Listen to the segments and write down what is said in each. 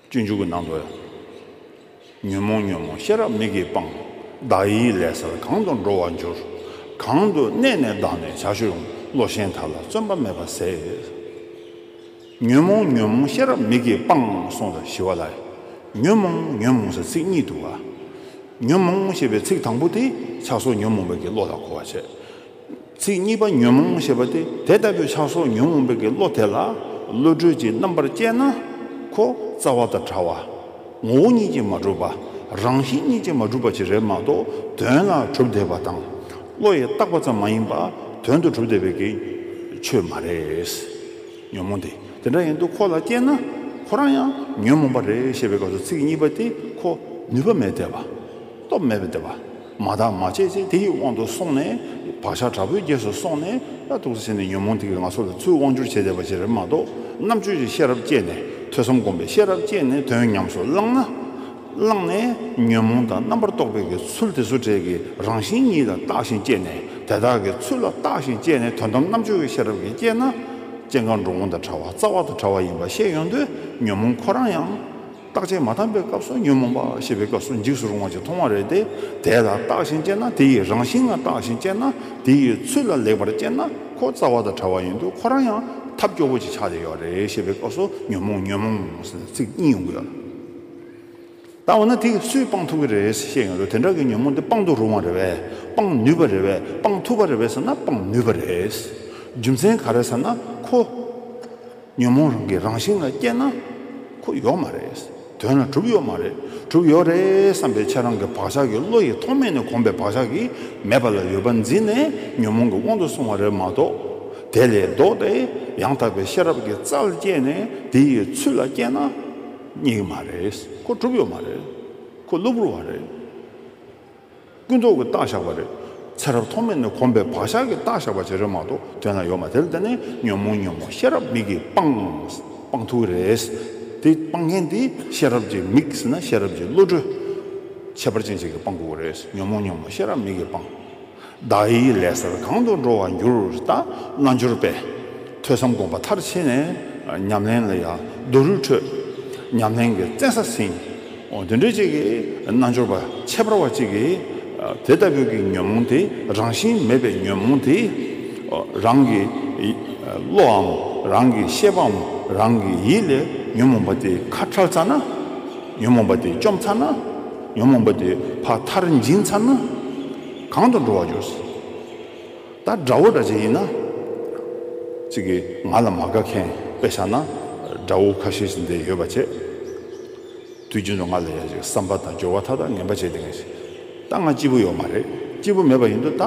སྤྱོད་འཇུག་གི་ནང་དུ། ཉོན་མོངས་ཉོན་མོངས་ཤེས་རབ་མིག་གིས་སྤངས། བདག་ཡིད་ལས་སར་གང་དུ་འགྲོ་བར་འགྱུར། གང་དུ་གནས་ནས་བདག་ནི་བྱ་ཞུགས། བློ་ཞེན་དག་ལ་བརྩོན་པ་མེད་པར་ཟད། ཉོན་མོངས་ཉོན་མོངས་ཤེས་རབ་མིག་གིས་སྤངས་གསུངས་ལ་ཞི་བ་ལ། ཉོན་མོངས་ཉོན་མོངས་ཟེར་ཚིག་གཉིས་འདུ་བ། ཉོན་མོངས་ཞེས་པའི་ཚིག་དང་པོ་དེ་ཆགས་སོགས་ཉོན་མོངས་པའི་ཀྱི་བློ་ལ་གོ་བར་བྱེད། ཚིག་གཉིས་པ་ཉོན་མོངས་ཞེས་པ་སྟེ་དེ་ལྟ་བུའི་ཆགས་སོགས་ཉོན་མོངས་པའི་དགེ་བློ་དེ་ལ་བློ་གྲོས་ཀྱི་རྣམ་པར་དཔྱད་ན། ཁོ་རྩ་བ་དང་ཕྲ་བ། ངོ་བོ་ཉིད་ཀྱིས་མ་གྲུབ་པ། རང་བཞིན་ཉིད་ཀྱིས་མ་གྲུབ་པ་ཞིག་རེད་མ་གཏོགས་དོན་ལ་གྲུབ་བསྡད་པ་དང། བློ་ཡིས་བརྟགས་པ་ཙམ་མ་ཡིན་པར་དོན་དུ་གྲུབ་བསྡད་པའི་གེ། ཆོས་མ་རེད། ཉོན་མོངས་དེ་དེ་འདྲ་ཡིན་དུས་ཁོ་ལ་དཔྱད་ན། ཁོ་རང་ཡང་ཉོན་མོངས་པ་རེད་ཞེས་པའི་སྐབས་སུ་ཚིག་གཉིས་པ་དེ་ཁོ་ནུས་པ་མེད་བསྡད་པ། སྟོབས་མེད་བསྡད་པ། མ་དག་མ་བྱས་ཚེ་དེ་ཡི་དབང་དུ་སོང་ནས། བག་ཆགས་དྲག་པོའི་རྒྱས་སུ་སོང་ནས། ལྟ་ཐུག་ཟིན་ནས་ཉོན་མོངས་དེ་གི་ང་སོགས་ལ་ཚུལ་དབང་སྒྱུར་བྱེད་བདེ་བ་ཅི་རེད་མ་གཏོགས། རྣམ་དཔྱོད་ཀྱི་ཤེས་རབ་བསྐྱེད་ནས་ཐོས་བསམ་སྒོམ་པའི་ཤེས་རབ་བསྐྱེད་ནས་དོན་ཉམས་སུ་བླངས་ན། བླངས་ནས་ཉོན་མོངས་དང་རྣམ་པར་རྟོག་པའི་གི་ཚུལ་དེ་བཟོ་བྲལ་གི་རང་བཞིན་ཉིད་ལ་བརྟགས་ཤིང་དཔྱད་ནས་དེ་དག་གི་ཚུལ་ལ་བརྟགས་ཤིང་དཔྱད་ནས་དོན་དམ་རྣམ་དཔྱོད་ཀྱི་ཤེས་རབ་ཀྱིས་བསྐྱེད་ན། སྐྱེ་འགག་འགྲོ་འོང་དང་བྲལ་བ་རྩ་བ་དང་བྲལ་བ་ཡིན་པ་ཤེས་ཡོང་དུས་ཉོན་མོངས་ཁོ་རང་ཡང། རྟགས་ཅན་མ་ཐམས་པའི་སྐབས་སུ་ཉོན་མོངས་པ་ཤེས་པའི་སྐབས་སུ་འཇིགས་སུ་རུང་བ་ཅིག་མཐོང་བ་རེད་དེ། དེ་ལ་རྟགས་བཞིན་དཔྱད་ན་དེ་ཡི་རང་བཞིན་ལ་རྟགས་བཞིན་དཔྱད་ན་དེ་ཡི་ཚུལ་ལ་ལེགས་པར་དཔྱད་ན་ཁོ་རྩ་བ་དང་བྲལ་བ་ཡིན་འདུག་ཁོ་རང་ཡང་ཐབས་སྐྱོ་བོ་ཅིག་ཆགས་བསྡད་ཡོད་རེད་ཤེས་པའི་སྐབས་སུ་ཉོན་མོངས་ཉོན་མོངས་ཟེར་ཚིག་གཉིས་ཡོང་གི་ཡོད། ད་འོ་ན་དེ་སུས་སྤང་ཐུབ་ཀྱི་རེད་བཤད་ཡོང་དུས་དེ་འདྲ་གི་ཉོན་མོངས་དེ་སྤང་དུ་རུང་བ་རེད་བས་སྤང་ནུས་པ་རེད་བས་སྤང་ཐུབ་པ་རེད་བས་ཟེར་ན་སྤང་ནུས་པ་རེད། རྒྱུ་མཚན་ག་རེད་ཟེར་ན་ཁོ། ཉོན་མོངས་རང་གི་རང་བཞིན་ལ་སྐྱེས་ན། ཁུ་ཡོག་མ་རེད། དོན་ལ་གྲུབ་ཡོག་མ་རེད། གྲུབ་ཡོག་རེད་བསམ་པའི་ཕྱིར་རང་གི་བག་ཆགས་ཀྱི་བློ་ཡིས་ཐོག་མེད་ནས་གོམས་པའི་བག་ཆགས་ཀྱིས་མེད་པ་ལ་ཡོད་པ་འཛིན་ནས་ཉོན་མོངས་ཀྱི་དབང་དུ་སོང་བ་རེད་མ་གཏོགས། དེ་ལས་ལྡོག་སྟེ་ཡང་དག་པའི་ཤེས་རབ་ཀྱི་རྩལ་བསྐྱེད་ནས་དེ་ཡི་ཚུལ་ལ་སྐྱེས་ན། གཉིས་མ་རེད། ཁུ་གྲུབ་ཡོག་མ་རེད། ཁུ་གློ་བུར་བ་རེད། ཀུན་རྟོག་གི་རྟགས་བཞག་པ་རེད། ཚེ་རབས་ཐོག་མེད་ནས་གོམས་པའི་བག་ཆགས་ཀྱི་རྟགས་བཞག་པ་བྱེད་རོལ་མ་གཏོགས་དོན་ལ་ཡོད་མ་དེར་བརྟེན་ནས་ཉོན་མོངས་ཉོན་མོངས་ཤེས་རབ་མིག་གིས་སྤངས། སྤང་ཐུབ་ཀྱི་རེད། དེ་སྤང་མཁན་དེ་ཤེས་རབ་ཀྱི་མིག་ཟེར་ན་ཤེས་རབ་ཀྱི་བློ་གྲོས། ཁྱད་པར་ཅན་ཞིག་གིས་སྤང་དགོས་ཀྱི་རེད། ཉོན་མོངས་ཉོན་མོངས་ཤེས་རབ་མིག་གིས་སྤངས། བདག་ཡིད་ལས་སར་གང་དུ་འགྲོ་བར་འགྱུར་ལྟ་རྣལ་འབྱོར་པས། ཐོས་བསམ་སྒོམ་པ་མཐར་ཕྱིན་ནས་ཉམས་ལེན་ལ་ཡདོ་རུ་འཕྲོད། ཉམས་ལེན་གྱི་བཙན་ས་ཟིན། དུད་འགྲོ་གཅིག་གིས་རྣལ་འབྱོར་པ་ཁྱད་པར་བ་གཅིག་གིས། དེ་ལྟ་བུའི་གི་ཉོན་མོངས་དེ་རང་བཞིན་མེད་པའི་ཉོན་མོངས་དེ། རང་གི་བློའམ་རང་གི་ཤེས་པའམ་རང་གི་ཡིད་ལས་ཉོན་མོངས་པ་དེ་ཁ་ཁྲལ་ཚར་ན། ཉོན་མོངས་པ་དེ་བཅོམ་ཚར་ན། ཉོན་མོངས་པ་དེ་ཕ་མཐར་འབྱིན་ཚར་ན། གང་དུ་འགྲོ་བར་འགྱུར། ད་དགྲ་བོ་འདྲ་ཅན་ཡིན་ན། ཅིག་གིས་ང་ལ་མ་དགའ་མཁན་དཔེ་བཞག་ན། དགྲ་བོ་ཁ་ཤས་ཤིག་འདིར་ཡོད་པ་བྱས། དུས་རྒྱུན་དུ་ང་ལ་ཡ་ཅིག་བསམ་པ་དང་སྦྱོར་བ་མཐའ་དག་ངན་པ་བྱས་ཏེ་ངས་བྱས། ད་ང་སྐྱིད་པོ་ཡོད་མ་རེད། སྐྱིད་པོ་མེད་པ་ཡིན་དུས་ད་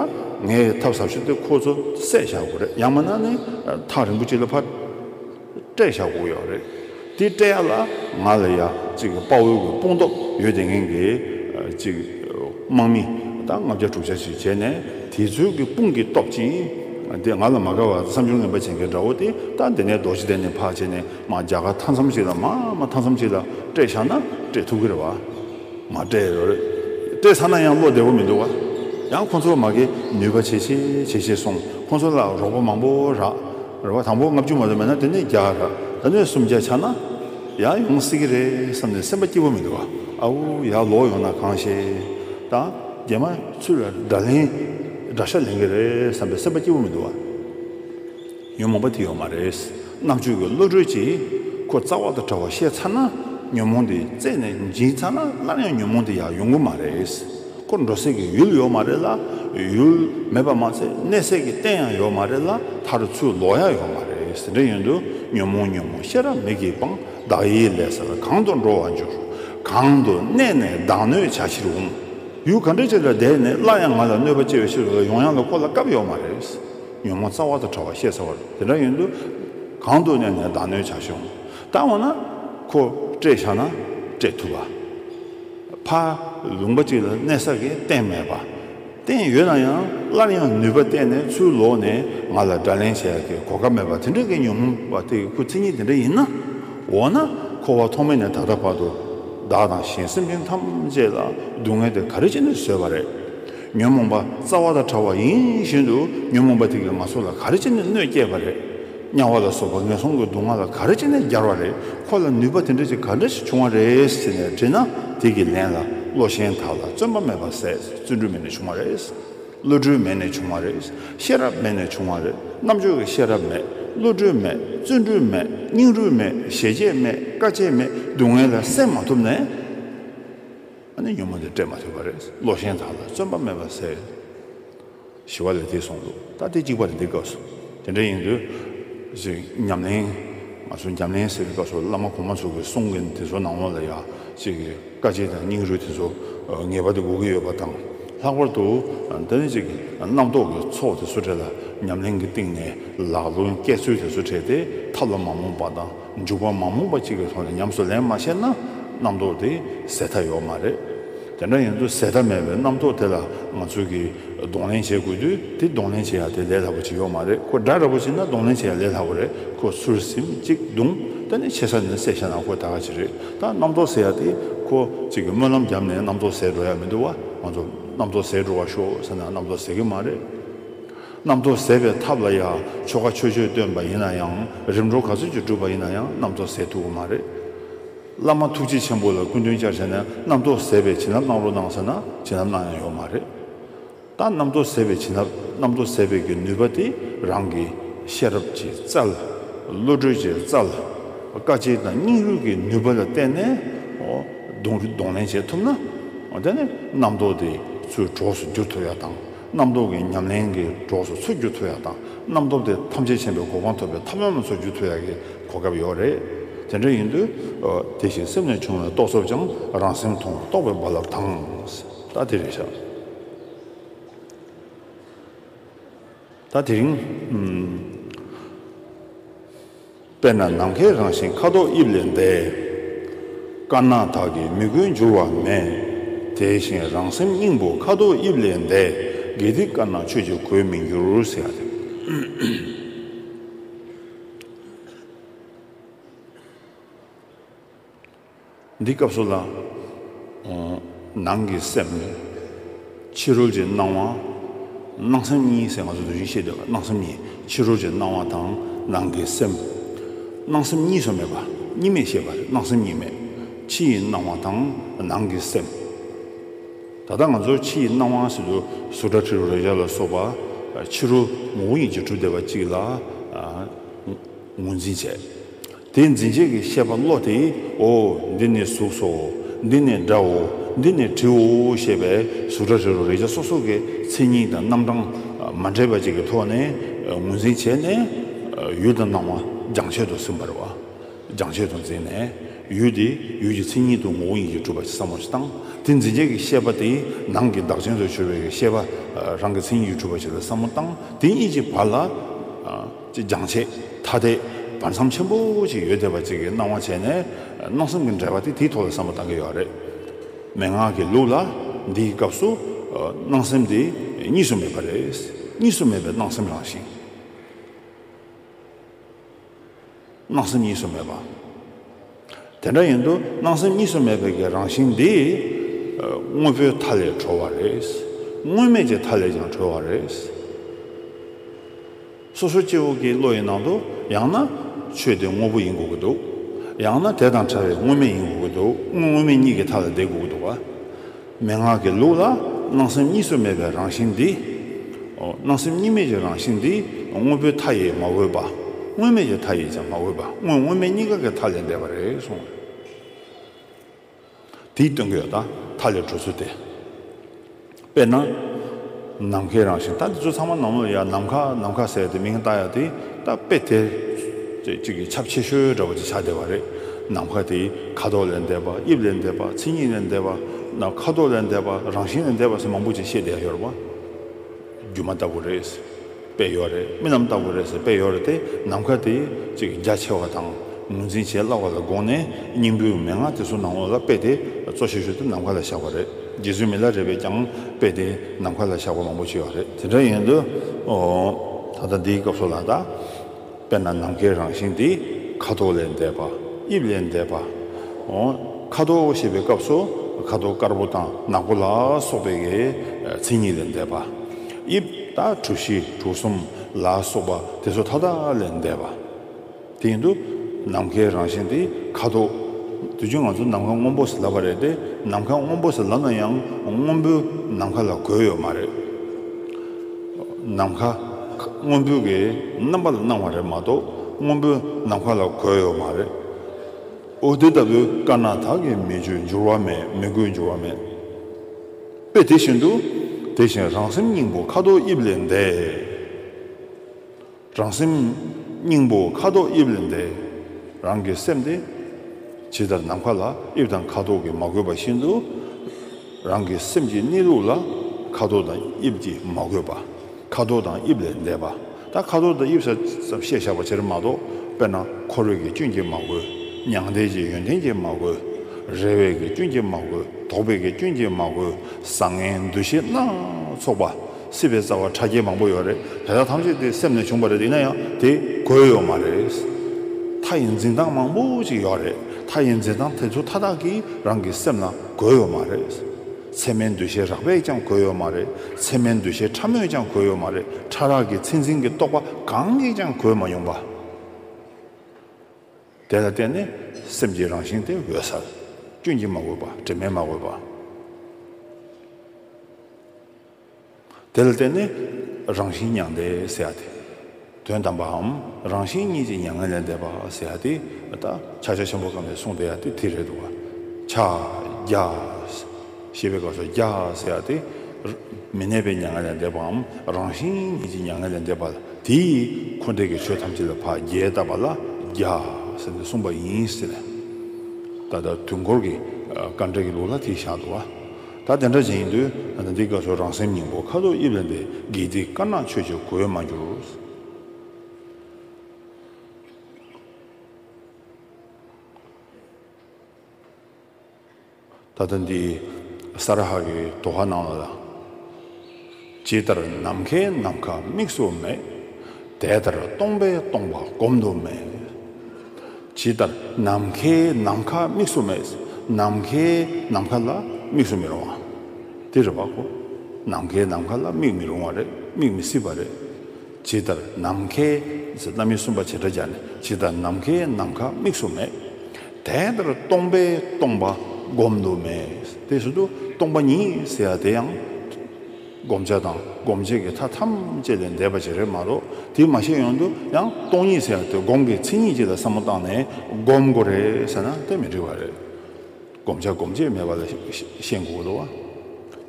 ངས་ཐབས་ཟབ་ཤོས་དེ་ཁོ་ཚོ་བསད་བཞག་དགོས་རེད་ཡང་མིན་ན་ནི་ཐག་རིང་པོ་གཅིག་ལ་ཕར། སྤྲད་བཞག་གོ་ཡག་རེད། དེ་སྤྲད་ཡག་ལ་ང་ལ་ཡག་གཅིག་དཔའ་བོའི་གོས་དཔུང་སྟོབས་ཡོད་དེ་ངན་གི། གཅིག་དམག་མི་དང་ལྔ་བརྒྱ་དྲུག་བརྒྱ་ཞིག་བྱས་ནས་དེ་ཚོའི་གི་དཔུང་གི་སྟོབས་ཀྱིས་དེ་ང་ལ་མ་དགའ་བ་བསམ་སྦྱོར་ངན་པ་བྱེད་མཁན་འདྲ་བོ་དེ་ལྟ་འདི་ནས་རྡོ་རྗེ་གདན་ནས་ཕག་བྱས་ནས་མ་རྒྱ་གར་མཐའ་མཚམས་ཞིག་ལ་མ་མ་མཐའ་མཚམས་ཞིག་ལ་སྤྲད་བཞག་ན་སྤྲད་ཐུབ་གི་རེད་བ། མ་སྤྲད་ཡག་རེད། སྤྲད་ཚར་ན་ཡང་བློ་བདེ་བོ་མི་འདུག་བ། ཡང་ཁོང་ཚོ་མ་གི་ནུས་པ་བྱེད་ཤེས་བྱེད་ཤེས་སོང་ཁོང་ཚོ་ལ་རོགས་པ་མང་པོ་རག། རེ་བ་དང་པོ་ལྔ་བཅུ་མ་ལོན་མེད་ན་དེ་ནས་བརྒྱ་ར་ད་ནས་སུམ་བརྒྱ་ཆགས་ན་ཡང་ཡོང་སྲིད་ཀྱི་རེད་བསམ་ནས་སེམས་པ་སྐྱིད་པོ་མི་འདུག་ཨའུ་ཡག་ལོག་ཡོང་ན་གང་ཤེས་ད་རྒན་མ་ཚུ་ལ་དགྲ་ལན་དགྲ་ཤ་ལེན་གྱི་རེད་བསམ་པའི་སེམས་པ་སྐྱིད་པོ་མི་འདུག་ཉོན་མོངས་པ་དེ་ཡོད་མ་རེད་རྣམ་དཔྱོད་ཀྱི་བློ་གྲོས་ཀྱིས་ཁོ་རྩ་བ་དང་བྲལ་བ་ཤེས་ཚར་ན་ཉོན་མོངས་དེ་རྩད་ནས་འབྱིན་ཚར་ན་སླར་ཡང་ཉོན་མོངས་དེ་ཡག་ཡོང་གི་མ་རེད། ཁོ་འགྲོ་སའི་གི་ཡུལ་ཡོད་མ་རེད་ལ་ཡུལ་མེད་པ་མ་ཚད་གནས་སའི་གི་རྟེན་ཡང་ཡོད་མ་རེད་ལ་ད་རུ་ཚུར་ལོག་ཡག་ཡོད་མ་རེད་ཟེར་འདྲ་ཡོད་འདུག་ཉོན་མོངས་ཉོན་མོངས་ཤེས་རབ་མིག་གི་སྤང་བདག་ཡིད་ལས་སར་གང་དུ་འགྲོ་བར་འགྱུར། གང་དུ་གནས་ནས་བདག་གནོད་བྱ་ཕྱིར་འོང། ཡུལ་ག་འདྲ་ཅིག་ལ་བསྡད་ནས་སླར་ཡང་ང་ལ་གནོད་པ་སྐྱེལ་བའི་ཕྱིར་ཡོང་ཡག་ལ་ཁོ་ལ་སྐབས་ཡོད་མ་རེད། ཉོན་མོངས་རྩ་བ་དང་བྲལ་བ་ཤེས་ཚར་བ་རེད་དེ་འདྲ་ཡོད་འདུག་གང་དུ་གནས་ནས་བདག་གནོད་བྱ་ཕྱིར་འོང། ད་འོ་ན་ཁོ་བསྐྲད་བཞག་ན་བསྐྲད་ཐུབ་བ། ཕ། ལུང་པ་གཅིག་ལ་གནད་ས་གི་རྟེན་མེད་པ། རྟེན་ཡོད་ན་ཡང་སླར་ཡང་ནུས་པ་བསྟན་ནས་ཚུར་ལོག་ནས་ང་ལ་དགྲ་ལན་བྱེད་ཡག་གི་གོ་སྐབས་མེད་པ་དེ་འདྲ་གི་ཉོན་མོངས་པ་དེ་གི་ཁུ་ཚེ་གཉིས་དེ་འདྲ་ཡིན་ན། འོ་ན་འཁོར་བ་ཐོག་མེད་ནས་ད་ལྟ་བར་དུ། བདག་དང་གཞན་སེམས་ཅན་ཐམས་ཅད་ལ་སྡུག་བསྔལ་དེ་ག་རེ་བྱས་ནས་བཟོས་པ་རེད། ཉོན་མོངས་པ་རྩ་བ་དང་བྲལ་བ་ཡིན་བཞིན་དུ་ཉོན་མོངས་པ་དེ་གིས་ང་ཚོ་ལ་ག་རེ་བྱས་ནས་གནོད་བསྐྱལ་བ་རེད། དམྱལ་བ་ལ་སོགས་པ་ངན་སོང་གི་སྡུག་བསྔལ་ལ་ག་རེ་བྱས་ནས་སྦྱར་བ་རེད་ཁོ་ལ་ནུས་པ་དེ་འདྲ་ཞིག་ག་འདྲ་ཞིག་བྱུང་བ་རེད་ཟེར་ནས་དྲིས་ན་དེ་གི་ལན་ལ་བློ་ཞེན་དག་ལ་བརྩོན་པ་མེད་པ་ཟད་བརྩོན་འགྲུས་མེད་ནས་བྱུང་བ་རེད། བློ་གྲོས་མེད་ནས་བྱུང་བ་རེད། ཤེས་རབ་མེད་ནས་བྱུང་བ་རེད་རྣམ་དཔྱོད་ཀྱི་ཤེས་རབ་མེད་བློ་གྲོས་མེད་བརྩོན་འགྲུས་མེད་སྙིང་རུས་མེད་ཞེ་བཅད་མེད་དཀའ་སྤྱད་མེད་སྡུག་བསྔལ་ལ་སེམས་མ་ཐུབ་ནས་ཉོན་མོངས་དེ་སྤྲད་མ་ཐུབ་པ་རེད་བློ་ཞེན་དག་ལ་བརྩོན་པ་མེད་པ་ཟད། ཞི་བ་ལས་དེ་སོང་འདུག་ད་ལྟའི་གཅིག་པ་རེད་འདི་སྐབས་སུ་དེ་འདྲ་ཡིན་དུས། ཞེས་ཉམས་ལེན། ང་ཚོ་ཉམས་ལེན་ཟེར་བའི་སྐབས་སུ་བླ་མ་གོང་མ་ཚོ་གི་གསུང་གི་དེ་ཚོ་ནང་ལོགས་ལ་ཡ་གཅིག་གི་དཀའ་སྤྱད་དང་སྙིང་རུས་དེ་ཚོ་ངེས་པར་དུ་དགོས་ཀྱི་ཡོད་པ་དང། ལྷག་པར་དུ་ད་ནི་གཅིག་གི་རྣམ་རྟོག་གི་ཚོགས་དེ་ཚོ་བྲལ་ལ་ཉམས་ལེན་གྱི་སྟེང་ནས་ལག་ལུང་སྐྱེས་ཚུལ་དེ་ཚོ་བྲལ་ཏེ་ཐབས་ལ་མ་རྨོངས་པ་དང། འཇུག་པ་མ་རྨོངས་པ་གཅིག་གི་ཐོག་ནས་ཉམས་སུ་ལེན་མ་ཤེས་ན་རྣམ་རྟོག་དེ་ཟད་མཐའ་ཡོད་མ་རེད། དེ་འདྲ་ཡིན་དུས་ཟད་མཐའ་མེད་པའི་རྣམ་རྟོག་དེ་ལ་ང་ཚོས་ཀྱིས་གདོང་ལེན་བྱེད་དགོས་དུས་དེ་གདོང་ལེན་བྱེད་ཡག་དེ་ལས་སླ་པོ་ཅིག་ཡོད་མ་རེད་ཁོ་དགྲ་ར་པོ་བྱེད་ན་གདོང་ལེན་བྱེད་ཡག་ལས་སླ་པོ་རེད་ཁོ་ཟུར་ཟིམ་གཅིག་བརྡུང་ད་ནི་ཆེ་ས་ནས་སད་བྱས་ན་ཁོ་ད་ག་ཅི་རེད་ད་རྣམ་རྟོག་ཟད་ཡག་དེ་ཁོ་གཅིག་གིས་སྨོན་ལམ་བརྒྱབ་ནས་རྣམ་རྟོག་ཟད་འགྲོ་ཡག་མི་འདུག་བ་ང་ཚོ་རྣམ་རྟོག་ཟད་འགྲོ་བ་ཤོག་ཟེར་ན་རྣམ་རྟོག་ཟད་ཀྱི་མ་རེད། རྣམ་རྟོག་ཟད་པའི་ཐབས་ལ་ཡང་ཆོ་ག་ཆོས་སྤྱོད་སྟོན་པ་ཡིན་ན་ཡང་རིམ་གྲོ་ག་ཚོད་ཀྱིས་བསྒྲུབ་པ་ཡིན་ན་ཡང་རྣམ་རྟོག་ཟད་ཐུབ་པ་མ་རེད། བླ་མ་ཐུགས་རྗེ་ཆེན་པོ་ལ་ཀུན་དོན་བསྐྱར་བྱས་ནས་རྣམ་རྟོག་ཟད་པའི་བྱིན་རླབས་གནང་རོགས་གནང་ཟེར་ན་བྱིན་རླབས་གནང་ཡང་ཡོད་མ་རེད། ད་རྣམ་རྟོག་ཟད་པའི་བྱིན་རླབས་རྣམ་རྟོག་ཟད་པའི་གི་ནུས་པ་དེ་རང་གི་ཤེས་རབ་ཀྱི་རྩལ། བློ་གྲོས་ཀྱི་རྩལ། དཀའ་སྤྱད་དང་སྙིང་རུས་ཀྱི་ནུས་པ་ལ་བརྟེན་ནས་གདོང་ལེན་བྱེད་ཐུབ་ན། དེ་ནི་རྣམ་རྟོག་དེ་ཚུར་གྲོགས་སུ་འགྱུར་ཐུབ་ཡག་དང། རྣམ་རྟོག་གི་ཉམས་ལེན་གྱི་གྲོགས་སུ་ཚུར་རྒྱུད་ཐོ་ཡག་དང་རྣམ་རྟོག་དེ་ཐམས་ཅད་ཕྱིན་པའི་གོ་འཕང་ཐོབ་པའི་ཐབས་ལམ་ལ་ཚུར་རྒྱུད་ཐོ་ཡག་གི་གོ་སྐབས་ཡོད་རེད། དེ་འདྲ་ཡིན་དུས། དེ་བཞིན་སེམས་ལས་བྱུང་བའི་རྟོག་ཚོགས་ཀྱང་རང་སེམས་མཐོང་བ་རྟོགས་པའི་རྦ་རླབས་དང། ད་དེ་རིང་ཤར། ད་དེ་རིང། དཔེར་ན་ནམ་མཁའི་རང་བཞིན་ཁ་དོག་དབྱིབས་ལས་འདས། དཀར་ནག་དག་གིས་མི་བསྒོས་འགྱུར་བ་མེད། དེ་བཞིན་རང་སེམས་སྙིང་པོ་ཁ་དོག་དབྱིབས་ལས་འདས། དགེ་སྡིག་དཀར་ནག་ཆོས་ཀྱིས་གོས་མི་འགྱུར་ཟེར། འདི་སྐབས་སུ་ལ། ནང་གི་སེམས་ནི། ཕྱི་རོལ་གྱི་སྣང་བ། སྣང་སེམས་གཉིས་ཟེར་ང་ཚོས་འདིར་ཡིད་ཆེས་བསྡོད་པ་སྣང་སེམས་གཉིས་ཕྱི་རོལ་གྱི་སྣང་བ་དང་ནང་གི་སེམས། སྣང་སེམས་གཉིས་སུ་མེད་པ་གཉིས་མེད་ཤེས་པ་རེད་སྣང་སེམས་གཉིས་མེད། ཕྱི་ཡི་སྣང་བ་དང་ནང་གི་སེམས། ད་ལྟ་ང་ཚོར་ཕྱི་ཡི་སྣང་བ་ཟེར་དུས་གཟུགས་སྒྲ་དྲི་རོ་རེག་བྱ་ལ་སོགས་པ་ཕྱི་རོལ་ངོ་བོ་ཉིད་ཀྱི་གྲུབ་བསྡད་པ་གཅིག་ལ་ངོས་འཛིན་བྱེད། དེས་འཛིན་བྱེད་ཀྱི་ཤེས་པ་བློ་དེས་ཨོ། འདི་ནི་གཟུགས་སོ། འདི་ནི་སྒྲའོ། འདི་ནི་དྲིའོ་ཞེས་པས་གཟུགས་སྒྲ་དྲི་རོ་རེག་བྱ་སོ་སོ་ཀའི་མཚན་ཉིད་དང་རྣམ་གྲངས་མ་འདྲེས་པ་གཅིག་གི་ཐོག་ནས་ངོས་འཛིན་བྱས་ནས། ཡུལ་དང་སྣང་བ་སྦྱང་བྱེད་དུ་སེམས་འབར་བ་སྦྱང་བྱེད་དུ་འཛིན་ནས། ཡུལ་དེ་ཡུལ་གྱི་མཚན་ཉིད་དུ་ངོ་བོ་ཉིད་ཀྱིས་གྲུབ་པ་བསམ་བར་བཏང། དེ་འཛིན་བྱེད་ཀྱི་ཤེས་པ་དེས་ནང་གི་བདག་ཅན་དུ་གྱུར་པའི་ཤེས་པ་རང་གི་མཚན་ཉིད་ཀྱིས་གྲུབ་པ་བྱས་པའི་བསམ་བློ་བཏང། དེ་གཉིས་ཀྱི་བར་ལ། ཅེས་སྦྱང་བྱེད་ཐ་དད་བར་མཚམས་ཆེན་པོ་ཅིག་ཡོད་བསྡད་པ་ཅིག་གི་སྣང་བ་བྱས་ནས་སྣང་སེམས་ཀྱི་འབྲེལ་བ་དེ་དེའི་ཐོག་ལ་བསམ་བློ་བཏང་གི་ཡོད་རེད། མན་ངག་གི་ལུགས་ལ་འདིའི་སྐབས་སུ་སྣང་སེམས་དེ་གཉིས་སུ་མེད་པ་རེད། གཉིས་སུ་མེད་པའི་སྣང་སེམས་རང་བཞིན། སྣང་སེམས་གཉིས་སུ་མེད་པ། དེ་འདྲ་ཡིན་དུས་སྣང་སེམས་གཉིས་སུ་མེད་པའི་གི་རང་བཞིན་འདི། དངོས་པོའི་མཐའ་ལས་གྲོལ་བ་རེད། དངོས་མེད་ཀྱི་མཐའ་ལས་ཀྱང་གྲོལ་བ་རེད། སོ་སོ་སྐྱེ་བོ་གི་བློ་ཡི་ནང་དུ་ཡང་ན། ཆོས་དེ་དངོས་པོ་ཡིན་དགོས་ཀྱི་འདུག། ཡང་ན་དེ་དང་བྲལ་བའི་དངོས་མེད་ཡིན་དགོས་ཀྱི་འདུག་དངོས་མེད་གཉིས་ཀྱི་མཐའ་ལ་བསྡད་དགོས་ཀྱི་འདུག་བ། མན་ངག་གི་ལུགས་ལ་སྣང་སེམས་གཉིས་སུ་མེད་པའི་རང་བཞིན་འདི། སྣང་སེམས་གཉིས་མེད་ཀྱི་རང་བཞིན་འདི་དངོས་པོའི་མཐའ་ཡིས་མ་འོས་པ། དངོས་མེད་ཀྱི་མཐའ་ཡིས་ཀྱང་མ་འོས་པ་དངོས་དངོས་མེད་གཉིས་ཀ་གི་མཐའ་ལས་འདས་པ་རེད་གསུངས། དེའི་སྟོན་ཀ་ཡོད་དང་མཐའ་ལས་གྲོལ་ཚུལ་ཏེ། དཔེར་ན། ནམ་མཁའི་རང་བཞིན་ད་འདི་ཚོ་ཚང་མ་ནམ་ལོ་ཡ་ནམ་མཁའ་ནམ་མཁའ་ཟེར་ཏེ་མིང་བཏགས་ཡ་དེ་ད་དཔེ་དེ་ཚོས་ཅིག་གིས་ཁྱབ་ཆེ་ཤོས་འདྲ་བོ་ཅིག་ཆགས་བསྡད་པ་རེད། ནམ་མཁའ་དེ་ཁ་དོག་ལས་འདས་པ་དབྱིབས་ལས་འདས་པ་མཚན་ཉིད་ལས་འདས་པ། ནམ་མཁའ་དོག་ལས་འདས་པ་རང་བཞིན་ལས་འདས་པ་སོགས་མང་པོ་ཅིག་བཤད་བསྡད་ཡོད་རེད་བ། སྒྱུ་མ་ལྟ་བུ་རེད། པས་ཡོད་རེད་མི་རྣམས་ལྟ་བུ་རེད་ཟེར་པས་ཡོད་རེད་དེ་ནམ་མཁའ་དེ་ཅིག་རྒྱ་ཆེ་བ་དང་ངོས་འཛིན་བྱེད་སླ་བ་ལ་དགོངས་ནས་སྙིང་པོའི་མན་ངག་དེ་ཚོ་ནང་བློ་ལ་དཔེ་དེ་གཙོ་བྱེད་ཞོར་དུ་ནམ་མཁའ་ལ་བཞག་པ་རེད་རྗེ་བཙུན་མི་ལ་རས་པས་ཀྱང་དཔེ་དེ་ནམ་མཁའ་ལ་བཞག་པ་མང་པོ་བྱས་ཡོད་རེད་དེ་འདྲ་ཡིན་དུས། ད་ལྟ་འདིའི་སྐབས་སུ་ལ་དྭགས། དཔེར་ན་ནམ་མཁའི་རང་བཞིན་དེ་ཁ་དོག་ལས་འདས་པ། དབྱིབས་ལས་འདས་པ། འོ། ཁ་དོག་ཞེས་པའི་སྐབས་སུ་ཁ་དོག་དཀར་པོ་དང་ནག་པོ་ལ་སོགས་པའི་མཚན་ཉིད་ལས་འདས་པ། དབྱིབས་དང་གྲུ་བཞི་གྲུ་གསུམ་ལ་སོགས་པ་དེ་ཚོ་མཐའ་དག་ལས་འདས་པ། དེ་ཡིན་དུ། ནམ་མཁའི་རང་བཞིན་དེ་ཁ་དོག། དེ་བཞིན་ང་ཚོ་ནམ་མཁའ་སྔོན་པོ་ཟེར་སླ་བ་རེད་དེ། ནམ་མཁའ་སྔོན་པོ་ཟེར་སླ་ན་ཡང་སྔོན་པོའི་ནམ་མཁའ་ལ་གོས་ཡོད་མ་རེད། ནམ་མཁའ། སྔོན་འབུལ་གྱི་རྣམ་པ་ལ་སྣང་བ་རེད་མ་གཏོགས་སྔོན་འབུལ་ནམ་མཁའ་ལ་གོལ་ཡོད་མ་རེད། འོ་དེ་ལྟ་བུའི་དཀར་ནག་དག་གིས་མི་བཅོས་འགྱུར་བ་མེད་མི་དགོས་འགྱུར་བ་མེད། དཔེ་དེ་བཞིན་དུ། དེ་བཞིན་རང་སེམས་སྙིང་པོ་ཁ་དོག་དབྱིབས་ལས་འདས། རང་སེམས་སྙིང་པོ་ཁ་དོག་དབྱིབས་ལས་འདས། རང་གི་སེམས་དེ། ཇི་ལྟར་ནམ་མཁའ་ལ་དབྱིབས་དང་ཁ་དོག་གིས་མ་གོས་པ་བཞིན་དུ། རང་གི་སེམས་ཀྱི་གནས་ལུགས་ལ་ཁ་དོག་དང་དབྱིབས་ཀྱིས་མ་གོས་པ། ཁ་དོག་དང་དབྱིབས་ལས་འདས་པ། ད་ཁ་དོག་དང་དབྱིབས་ཟེར་ཙམ་བཤད་བཞག་པ་དེར་མ་གཏོགས་དཔེར་ན་ཁོར་བས་ཀྱི་སྐྱོན་གྱིས་མ་གོས། མྱང་འདས་ཀྱི་ཡོན་ཏན་གྱིས་མ་གོས། རེ་བས་ཀྱི་སྐྱོན་གྱིས་མ་གོས་དོགས་པས་ཀྱི་སྐྱོན་གྱིས་མ་གོས་བཟང་ངན་འདུ་ཤེས་སྣ་ཚོགས་པ། སྲིད་པའི་རྩ་བ་ཕྲ་རྒྱས་མང་པོ་ཡོད་རེད་དེ་དག་ཐམས་ཅད་དེ་སེམས་ནས་བྱུང་བ་རེད་ཡིན་ན་ཡང་དེ་གོ་ཡོད་མ་རེད། མཐའ་ཡི་འཛིན་སྟངས་མང་པོ་ཅིག་ཡོད་རེད་མཐའ་ཡི་འཛིན་སྟངས་དེ་ཚོ་མཐའ་དག་གིས་རང་གི་སེམས་ལ་གོ་ཡོད་མ་རེད། ཚད་མའི་འདུ་ཤེས་རགས་པས་ཀྱང་གོ་ཡོད་མ་རེད་ཚད་མའི་འདུ་ཤེས་ཕྲ་མོས་ཀྱང་གོ་ཡོད་མ་རེད་ཕྲ་རགས་ཀྱི་ཚད་འཛིན་གྱི་རྟོག་པ་གང་གིས་ཀྱང་གོས་མ་མྱོང་པ། དེ་ལ་བརྟེན་ནས་སེམས་ཀྱི་རང་བཞིན་དེ་འོད་གསལ། སྐྱོན་གྱིས་མ་གོས་པ་དྲི་མས་མ་གོས་པ། དེ་ལ་བརྟེན་ནས་རང་བཞིན་མྱང་འདས་ཟེར་ཡ་སྟེ། དོན་དམ་པའམ་རང་བཞིན་གཉིས་ཀྱི་མྱ་ངན་ལས་འདས་པ་ཟེར་ཡ་སྟེ། ད་ཕྱག་རྒྱ་ཆེན་པོ་བསྐང་པའི་གསུང་བཟླས་ཡ་སྟེ་དེ་རེད་འདུག། ཕྱག་རྒྱ། ཞེས་པའི་སྐབས་སུ་རྒྱ་ཟེར་ཡ་སྟེ། མི་གནས་པའི་མྱ་ངན་ལས་འདས་པའམ་རང་བཞིན་གཉིས་ཀྱི་མྱ་ངན་ལས་འདས་པ་ལ་དེས་འཁོར་འདས་ཀྱི་ཆོས་ཐམས་ཅད་ལ་བ་རྒྱལ་བཏབ་པ་ལ་རྒྱ་ཟེར་ནས་གསུངས་པ་ཡིན་སྲིད། ད་ལྟ་དུས་འཁོར་གྱི་དཀའ་འགྲེལ་གྱི་ལུགས་ལ་དེ་བཞག་འདུག། ད་དེ་འདྲ་ཅན་ཡིན་དུས་འདི་ག་ཚོ་རང་སེམས་སྙིང་པོ་ཁ་དོག་དབྱིབས་ལེན་པའི་དགེ་སྡིག་དཀར་ནག་ཆོས་བརྗོད་གོ་འོས་མ་གྱུར། ད་ལྟ་འདི་ས་ར་ཧ་གི་དོ་ཧ་ནང་ལ་ལ། ཇི་ལྟར་ནམ་མཁའི་ནམ་མཁའ་དམིགས་སུ་མེད། དེ་ལྟར་སྟོང་པའི་སྟོང་པ་བསྒོམ་དུ་མེད། ཇི་ལྟར་ནམ་མཁའི་ནམ་མཁའ་དམིགས་སུ་མེད། ནམ་མཁའི་ནམ་མཁའ་ལ་དམིགས་སུ་མི་རུང་ངམ། འདི་རེ་བ་གོ། ནམ་མཁའི་ནམ་མཁའ་ལ་དམིགས་མི་རུང་བ་རེད་དམིགས་མི་སྲིད་པ་རེད། ཇི་ལྟར་ནམ་མཁའི། རྣམ་དབྱེ་གསུམ་པ་བྱེ་བྲག་སྦྱར་ནས་ཇི་ལྟར་ནམ་མཁའི་ནམ་མཁའ་དམིགས་སུ་མེད། དེ་ལྟར་སྟོང་པས་སྟོང་པ་བསྒོམ་དུ་མེད་དེ་བཞིན་དུ་སྟོང་པ་ཉིད་ཟེར་བ་དེ་ཡང། བསྒོམ་བྱ་དང་སྒོམ་བྱེད་ཀྱི་མཐའ་ཐམས་ཅད་ལས་འདས་པ་ཅིག་རེད་མ་གཏོགས་དེའི་མ་ཤེས་ཡོན་དུ་ཡང་སྟོང་ཉིད་ཟེར་བ་དེ་སྒོམ་གྱི་མཚན་ཉིད་ཅིག་ལ་བསམ་བློ་བཏང་ནས་བསྒོམ་དགོས་རེད་ཟེར་ན་དེ་མི་འགྲིག་པ་རེད། བསྒོམ་བྱ་སྒོམ་བྱེད་མེད་པ་ལ་ཤེས་དགོས་དོ།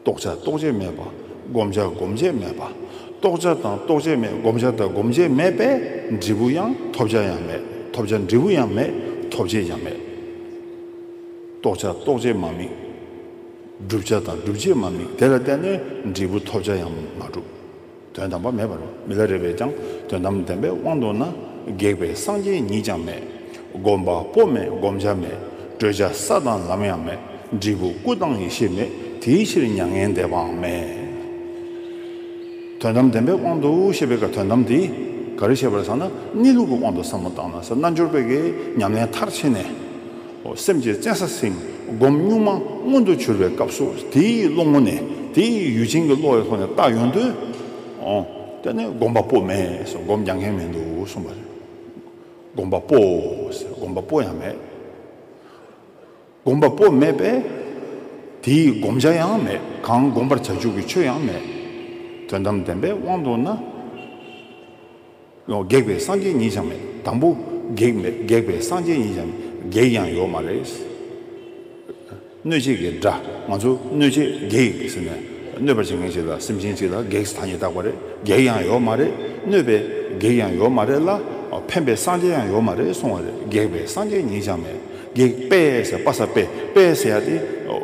རྟོགས་བྱ་རྟོགས་བྱེད་མེད་པ། བསྒོམ་བྱ་སྒོམ་བྱེད་མེད་པ། རྟོགས་བྱ་དང་རྟོགས་བྱེད་མེད་བསྒོམ་བྱ་དང་སྒོམ་བྱེད་མེད་པས་འབྲས་བུ་ཡང་ཐོབ་བྱ་ཡང་མེད་ཐོབ་བྱ་འབྲས་བུ་ཡང་མེད་ཐོབ་བྱེད་ཡང་མེད། རྟོགས་བྱ་རྟོགས་བྱེད་མ་དམིགས། བསྒྲུབ་བྱ་དང་སྒྲུབ་བྱེད་མ་དམིགས་དེ་ལ་བརྟེན་ནས་འབྲས་བུ་ཐོབ་བྱ་ཡང་མ་གྲུབ། དོན་དམ་པ་མེད་པར་མི་ལ་རེ་བས་ཀྱང་དོན་དམ་བདེན་པའི་དབང་དུ་ན་སྒེག་པའི་སངས་རྒྱས་ཉིད་ཀྱང་མེད། བསྒོམ་པ་པོ་མེད་བསྒོམ་བྱ་མེད་བགྲོད་བྱ་ས་དང་ལམ་ཡང་མེད་འབྲས་བུ་སྐུ་དང་ཡེ་ཤེས་མེད་དེའི་ཕྱིར་མྱ་ངན་འདས་པའང་མེད། དོན་དམ་བདེན་པའི་དབང་དུ་ཞེས་པའི་ཀ་དོན་དམ་དེ་ག་རེ་བྱེད་པར་བསམ་ན་གནས་ལུགས་ཀྱི་དབང་དུ་བསམ་མོ་བརྟགས་ན་ས་རྣལ་འབྱོར་པའི་ཉམས་ལེན་མཐར་ཕྱིན་ནས། སེམས་ཀྱི་བཙན་ས་སེམས་སྒོམ་གཉུག་མ་མངོན་དུ་གྱུར་པའི་སྐབས་སུ་དེའི་བློ་ངོ་ནས་དེ་ཡུལ་ཅན་གྱི་བློ་ཡི་ཐོག་ནས་བརྟགས་ཡོང་དུས། དེ་ནི་སྒོམ་པ་པོ་མེད་ཟེར་སྒོམ་རྒྱག་མཁན་མི་འདུག་གསུངས་པ་རེད། སྒོམ་པ་པོ་ཟེར་སྒོམ་པ་པོ་ཡང་མེད། སྒོམ་པ་པོ་མེད་པས་དེའི་བསྒོམ་བྱ་ཡང་མེད་གང་བསྒོམ་པར་བྱ་འཇུག་གི་ཆོས་ཡང་མེད། དོན་དམ་བདེན་པའི་དབང་དུ་ན། བགེགས་པའི་སངས་རྒྱས་ཉིད་ཀྱང་མེད་དང་པོ། བགེགས་མེད་བགེགས་པའི་སངས་རྒྱས་ཉིད་ཀྱང་མེད་བགེགས་ཀྱང་ཡོད་མ་རེད། གནོད་བྱེད་བགེགས་འདྲ་ང་ཚོ་གནོད་བྱེད་བགེགས་ཟེར་ནས་གནོད་པར་བྱེད་མཁན་ཞིག་ལ་སེམས་ཅན་ཞིག་ལ་བགེགས་ཐ་སྙད་བཏགས་པ་རེད་བགེགས་ཡང་ཡོད་མ་རེད་གནོད་པའི་བགེགས་ཡང་ཡོད་མ་རེད་ལ་ཕན་པའི་སངས་རྒྱས་ཡང་ཡོད་མ་རེད་གསུང་བ་རེད་བགེགས་པའི་སངས་རྒྱས་ཉིད་ཀྱང་མེད་བགེགས་དཔལ་ཟེར་དཔའ་ཟེར་དཔལ་དཔལ་ཟེར་ཡ་དེ་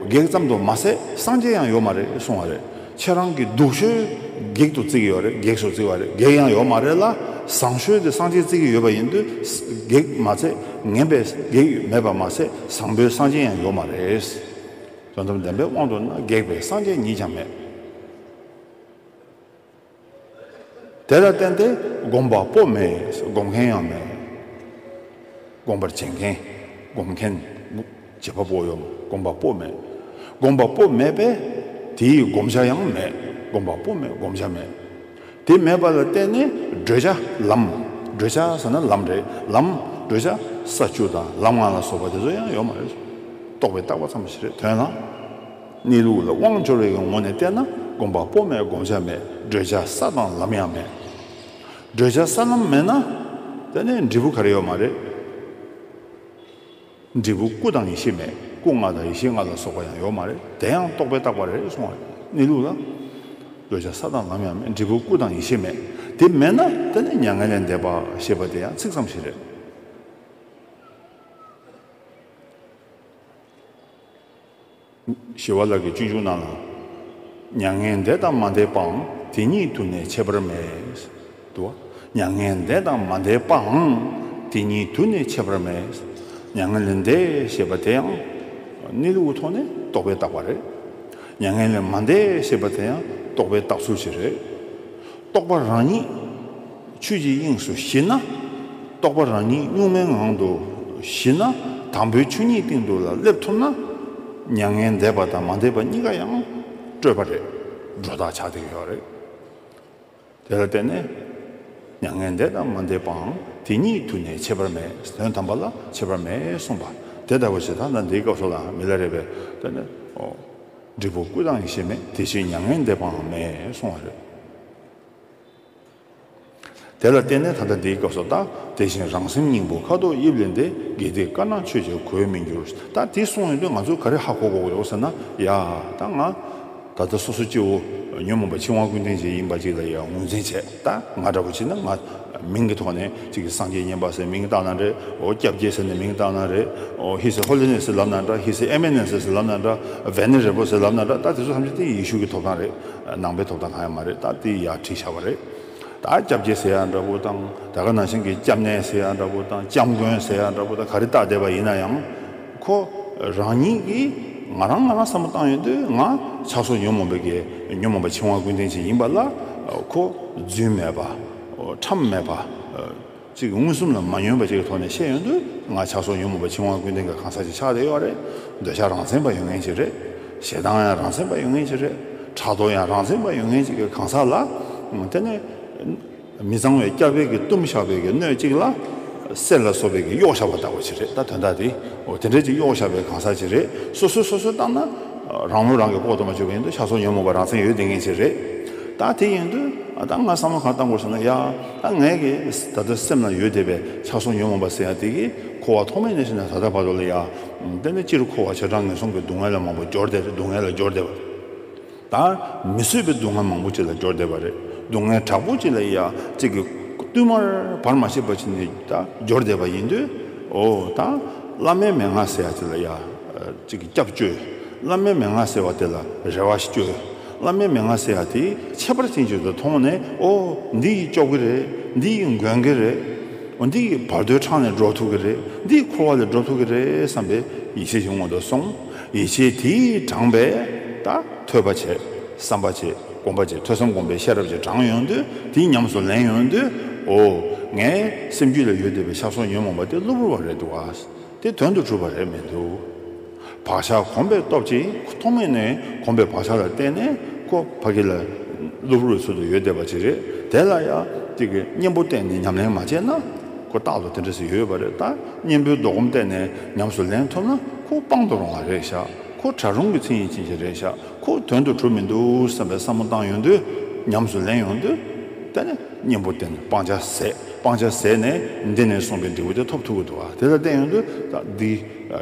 བགེགས་ཙམ་དུ་མ་ཟད་སངས་རྒྱས་ཡང་ཡོད་མ་རེད་གསུང་བ་རེད། ཁྱེད་རང་གི་སྡུག་ཤོས་བགེགས་དུ་བརྩི་གི་ཡོད་རེད་བགེགས་སུ་བརྩི་བ་རེད་བགེགས་ཡང་ཡོད་མ་རེད་ལ་བཟང་ཤོས་དེ་གསང་ཆེན་བརྩི་གི་ཡོད་པ་ཡིན་དུས་བགེགས་མ་ཚད་ངན་པའི་བགེགས་མེད་པ་མ་ཚད་བཟང་པོའི་གསང་ཆེན་ཡང་ཡོད་མ་རེད། དོན་དམ་བདེན་པའི་དབང་དུ་ན་བགེགས་པའི་གསང་ཆེན་ཉིད་ཀྱང་མེད། དེ་ལ་བརྟེན་ཏེ་སྒོམ་པ་པོ་མེད་སྒོམ་མཁན་ཡང་མེད། སྒོམ་པར་བྱེད་མཁན་སྒོམ་མཁན། བྱེད་པ་པོ་ཡང་སྒོམ་པ་པོ་མེད་སྒོམ་པ་པོ་མེད་པས་དེའི་བསྒོམ་བྱ་ཡང་མེད་སྒོམ་པ་པོ་མེད་བསྒོམ་བྱ་མེད། དེ་མེད་པ་ལ་བརྟེན་ནས་བགྲོད་བྱ་ལམ་བགྲོད་བྱ་ཟེར་ན་ལམ་རེད་ལམ་བགྲོད་བྱ་ས་བཅུ་དང་ལམ་ལྔ་ལ་སོགས་པ་དེ་ཚོ་ཡང་ཡོད་མ་རེད། རྟོགས་པའི་བརྟགས་པ་ཙམ་ཞིག་རེད་དོན་ལ། གནས་ལུགས་ལ་དབང་འབྱོར་བའི་ངོ་ནས་བལྟས་ན་དགོངས་པ་པོ་མེད་དགོངས་འཆར་མེད་བགྲོད་བྱ་ས་དང་ལམ་ཡང་མེད། བགྲོད་བྱ་ས་ལམ་མེད་ན། དེ་ནས་འབྲས་བུ་ག་རེ་ཡོད་མ་རེད། འབྲས་བུ་སྐུ་དང་ཡེ་ཤེས་མེད་སྐུ་ལྔ་དང་ཡེ་ཤེས་ལྔ་ལ་སོགས་པ་ཡང་ཡོད་མ་རེད་དེ་ཡང་རྟོག་པས་བཏགས་པ་རེད་གསུང་བ་རེད་གནས་ལུགས་ལ། བགྲོད་བྱ་ས་དང་ལམ་ཡང་མེད་འབྲས་བུ་སྐུ་དང་ཡེ་ཤེས་མེད་དེ་མེད་ན་དེ་ནས་མྱ་ངན་ལས་འདས་པ་ཞེས་པ་དེ་ཡང་ཚིག་ཙམ་ཞིག་རེད། ཞི་བ་ལགས་ཀྱི་གཅེན་གཅུང་རྣམས་ལ། མྱ་ངན་འདས་དང་མ་འདས་པའང་དེ་ཉིད་དུ་ནས་འཆད་པར་མེད་དོ། མྱ་ངན་འདས་དང་མ་འདས་པའང་དེ་ཉིད་དུ་ནས་འཆད་པར་མེད། མྱ་ངན་ལས་འདས་ཞེས་པ་དེའང་གནས་ལུགས་ཐོག་ནས་རྟོགས་པའི་རྟགས་པ་རེད། མྱ་ངན་ལས་མ་འདས་ཞེས་པ་དེ་ཡང་རྟོགས་པའི་རྟགས་ཚུལ་ཞིག་རེད། རྟོགས་པ་རང་ཉིད། ཆོས་ཀྱི་དབྱིངས་སུ་གཞི་ན་རྟོགས་པ་རང་ཉིད་གཉུག་མའི་ངང་དུ་གཞི་ན་དང་པོའི་ཆོས་ཉིད་སྟེང་དུ་ལ་སླེབས་ཐུབ་ན། མྱ་ངན་འདས་པ་དང་མ་འདས་པ་གཉིས་ཀ་ཡང་སྤྲོས་པ་རེད་སྒྲོ་བཏགས་ཆགས་སྡེག་ཡོད་རེད། དེ་ལ་བརྟེན་ནས་མྱ་ངན་འདས་དང་མ་འདས་པའང་དེ་ཉིད་དུ་ནས་ཁྱད་པར་མེད་དོན་དམ་པ་ལ་ཁྱད་པར་མེད་གསུངས་པ་དེ་ལྟ་བུ་ཞིག་ད་ལྟ་འདིའི་སྐབས་སུ་ལ་མི་སླེབས་རེད་བས་ན། འབྲས་བུ་ཀུན་བཏང་ཡེ་ཤེས་མེད་དེ་བཞིན་མྱ་ངན་འདས་པའང་མེད་གསུངས་བ་རེད། དེ་ལ་བརྟེན་ནས་ད་ལྟ་འདིའི་སྐབས་སུ་ལྟ། དེ་བཞིན་རང་སེམས་སྙིང་པོ་ཁ་དོག་དབྱིབས་ལས་འདས་དགེ་སྡིག་དཀར་ནག་ཆོས་བྱེད་གོས་མི་འགྱུར། ད་དེ་གསུངས་ཡོང་དུས་ང་ཚོ་ག་རེ་ཧ་གོ་གོ་ཡོང་ཟེར་ན། ཡ། ད་ང། ད་ལྟ་སོ་སོ་སྐྱེའོ། ཉོན་མོངས་པ་ཕྱི་དབང་ཀུན་ལྡན་ཅིག་ཡིན་པ་ཅིག་ལ་ཡང་ངོས་འཛིན་བྱེད། ད་ང་འདྲ་བོ་ཅིག་ན་ང། མིང་གི་ཐོག་ནས་ཅིག་གིས་སངས་རྒྱས་བསྙེན་པ་ཟེར་མིང་བཏགས་ན་རེད། ཨོ་སྐྱབས་རྒྱལ་ཟེར་ནས་མིང་བཏགས་ན་རེད། ཨོ་ཧི་སི་ཧོ་ལི་ནེ་ཟེར་ལབ་ན་འདྲ་ཧི་སི་ཨེ་མེ་ནེ་ཟེར་ལབ་ན་འདྲ། བན་ནེ་རེ་པོ་ཟེར་ལབ་ན་འདྲ་ད་དེ་ཚོ་ཐམས་ཅད་ཏིང་ཡིག་ཤུགས་ཀྱི་ཐོབ་ཐང་རེད། ནང་པའི་ཐོབ་ཐང་གང་ཡང་མ་རེད་ད་དེ་ཡག་ཁྲིག་ཆགས་པ་རེད་ད་སྐྱབས་རྗེ་ཟེར་ཡག་འདྲ་པོ་དང་ད་ག་ནང་བཞིན་གྱི་སྐྱབས་གནས་ཟེར་ཡག་འདྲ་པོ་དང་སྐྱབས་མགོན་ཟེར་ཡག་འདྲ་པོ་དང་ག་རེ་བཏགས་བསྡད་པ་ཡིན་ན་ཡང་ཁོ་རང་ཉིད་ཀྱིས་ང་རང་ང་རང་བསམ་བློ་བཏང་ཡོད་དུས་ང་ཆགས་སོ་ཉོན་མོངས་པའི་གས་ཉོན་མོངས་པ་འཆིང་བ་ཀུན་ལྡན་ཅིག་ཡིན་པ་ལ་ཁོ་རྫུན་མེད་པ་ཁྲམ་མེད་པ། གཅིག་གི་མངོན་སུམ་ལ་མ་ཉོན་པ་བཅས་ཀྱི་ཐོག་ནས་བཤད་ཡོང་དུས་ང་ཆགས་སོགས་ཉོན་མོངས་པ་ཕྱི་དབང་ཀུན་ལྡན་གྱི་གང་ཟག་ཅིག་ཆགས་བསྡད་ཡོད་པ་རེད། འདོད་ཆགས་རང་མཚན་པ་ཡོད་ངེས་ཅིག་རེད། ཞེ་སྡང་ཡང་རང་མཚན་པ་ཡོད་ངེས་ཅིག་རེད། ཕྲག་དོག་ཡང་རང་མཚན་པ་ཡོད་ངེས་ཅིག་གི་གང་ཟག་ལ། དེ་ནི། མི་གཙང་བའི་སྐྱ་བལ་གྱི་གཏུམ་བཤགས་བལ་གྱི་སྣོད་ཅིག་ལ། གསེར་ལ་སོགས་བལ་གྱི་གཡོག་བཤགས་པ་ལྟ་བུ་ཅིག་རེད་ད་དོན་དག་དེ། འོ་དེ་འདྲ་ཅིག་གཡོག་བཤགས་པའི་གང་ཟག་ཅིག་རེད། སོ་སོས་སོ་སོར་བརྟགས་ན། རང་ལུས་རང་གིས་ལྐོག་ཏུ་མ་བཅོས་པ་ཡིན་དུས་ཆགས་སོགས་ཉོན་མོངས་པ་རང་མཚན་ཡོད་བསྡད་ངེས་ཅིག་རེད། ད་དེ་ཡིན་དུས། ད་ང་བསམ་བློ་གང་བཏང་དགོས་ཟེར་ན་ཡ། ཨ་ངའི་གི་ད་ལྟ་སེམས་ན་ཡོད་བསྡད་པའི་ཚ་གསུང་ཉོན་མོངས་པ་ཟེར་ཡ་དེ་གི་འཁོར་བ་ཐོག་མའི་གནས་ཤིག་ན་ད་ལྟ་བར་དུ་ལ་ཡ་དཔེར་ན་སྤྱིར་འཁོར་བ་བྱེ་བྲག་ངན་སོང་གི་སྡུག་བསྔལ་ལ་མང་པོ་སྦྱོར་བསྡད་རེད་སྡུག་བསྔལ་ལ་སྦྱོར་བསྡད་པ་རེད་ད། མི་བཟོད་པའི་སྡུག་བསྔལ་མང་པོ་ཅིག་ལ་སྦྱོར་བསྡད་པ་རེད་སྡུག་བསྔལ་དྲག་པོ་ཅིག་ལ་ཡ་ཚིག་གི་བསྟུད་མར་བར་མ་ཆད་པ་ཅིག་ནས་ད་སྦྱོར་བསྡད་པ་ཡིན་དུས་ཨོ་ད། བླ་མའི་མན་ངག་ཟེར་ཡ་དེ་ལ་ཡ་ཚིག་གི་སྐྱབས་བཅོལ་བླ་མའི་མན་ངག་ཟེར་བ་དེ་ལ་རེ་བ་བཅོལ། བླ་མའི་མན་ངག་བསྲེས་ཡག་དེ་ཁྱད་པར་ཅན་བྱོས་ཙང་ཐོག་མ་ནས་ཨོ། འདི་ཡིས་ལྕོག་གི་རེད། འདི་ཡིས་འགོན་གི་རེད། འོ་འདི་ཡིས་བར་དོའི་འཕྲང་ནས་འགྲོ་ཐུབ་གི་རེད། འདི་ཡིས་འཁོར་བ་ལས་སྒྲོབ་ཐུབ་གི་རེད་བསམ་པའི་ཡིད་ཆེས་ཞིག་ངོ་ཐོག་སོང། ཡིད་ཆེས་དེས་དྲངས་པས་ད་ཐོས་པ་བྱས། བསམ་པ་བྱས། སྒོམ་པ་བྱས་ཐོས་བསམ་སྒོམ་པའི་ཤེས་རབ་ཅིག་དྲངས་ཡོང་དུས་དེ་ཉམས་སུ་ལེན་ཡོང་དུས་ཨོ། ངའི་སེམས་རྒྱུད་ལ་ཡོད་བསྡད་པའི་ཤ་སོགས་ཉོན་མོངས་པ་དེ་གློ་བུར་བ་རེད་འདུག་ཨ། དེ་དོན་དུ་གྲུབ་པ་རེད་མི་འདུག། བག་ཆགས་གོམས་པའི་སྟོབས་ཀྱིས་ཐོག་མེད་ནས་གོམས་པའི་བག་ཆགས་ལ་བརྟེན་ནས་ཁོ་ཕ་གི་ལ་ལུག་རུས་ཚོད་དུ་ཡོད་བསྡད་པ་ཅིག་རེད་དེ་ལ་ཡང་ཏིག་གི་གཉེན་པོ་གཏན་ནས་ཉམས་ལེན་མ་བྱས་ན་ཁོ་རྟག་ཏུ་དེ་འདྲ་ཞིག་ཡོད་པ་རེད་ད་གཉེན་པོའི་ལྡོག་གོམས་གཏན་ནས་ཉམས་སུ་ལེན་ཐུབ་ན་ཁོ་སྤང་དུ་རུང་བ་རེད་ཤག་ཁོ་གྲགས་རུང་གི་མཚན་ཡིན་ཅི་ཞིག་རེད་ཤག་ཁོ་དོན་དུ་གྲུབ་མི་འདུག་བསམ་པའི་བསམ་བློ་བཏང་ཡོང་དུས་ཉམས་སུ་ལེན་ཡོང་དུས་གཏན་ནས། གཉེན་པོ་བསྟེན་ནས་སྤང་བྱ་ཟད། སྤང་བྱ་ཟད་ནས་འདི་ནས་གསུངས་པའི་འབྲས་བུ་དེ་ཐོབ་ཐུག་གི་འདུག་དེ་ལ་བསྟན་ཡོང་དུ་འདི།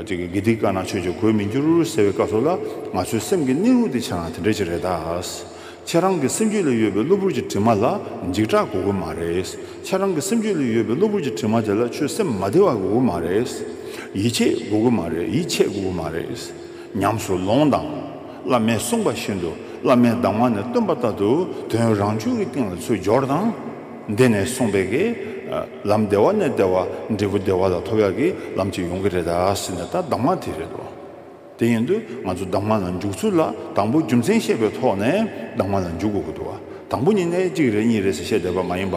དགེ་སྡིག་དཀར་ནག་ཆོས་ཀྱི་གོས་མི་འགྱུར་ཟེར་བའི་སྐབས་སོགས་ལ་ང་ཚོའི་སེམས་ཀྱི་གནས་ལུགས་དེ་ཆ་ན་དེ་འདྲ་ཅིག་རེད་ད། ཁྱེད་རང་གི་སེམས་རྒྱུད་ལ་ཡོད་པའི་གློ་བུར་གྱི་དྲི་མ་ལ་འཇིགས་སྐྲག་དགོས་དགོས་མ་རེད། ཁྱེད་རང་གི་སེམས་རྒྱུད་ལ་ཡོད་པའི་གློ་བུར་གྱི་དྲི་མ་དེ་ལ་ཆོད་སེམས་མ་བདེ་བ་དགོས་དགོས་མ་རེད། ཡིད་ཆེས་དགོས་དགོས་མ་རེད་ཡིད་ཆེས་དགོས་དགོས་མ་རེད། ཉམས་སུ་ལོངས་དང། བླ་མས་གསུངས་པ་བཞིན་དུ་བླ་མའི་གདམས་ངག་ནི་སྟོན་པ་ལྟར་དུ་དོན་རང་བྱུང་གི་སྟེང་ལ་ཚུལ་སྦྱོར་དང། འདི་ནས་གསུངས་པའི་གི། ལམ་བདེ་བ་ནས་བདེ་བ་འབྲས་བུ་བདེ་བ་ལ་ཐོབ་ཡ་གི་ལམ་གཅིག་ཡོང་གི་རེད་ད་ཟེར་ནས་ད་གདམས་ངག་དེ་རེད་དོ། དེ་ཡིན་དུས་ང་ཚོ་གདམས་ངག་ལ་འཇུག་ཚུལ་ལ་དང་པོ་རྒྱུ་མཚན་བཤད་པའི་ཐོག་ནས་གདམས་ངག་ལ་འཇུག་དགོས་ཀྱི་འདུག་དང་པོ་ཉིད་ནས་གཅིག་རེད་གཉིས་རེད་ཟེར་བཤད་བསྡད་པ་མ་ཡིན་པ་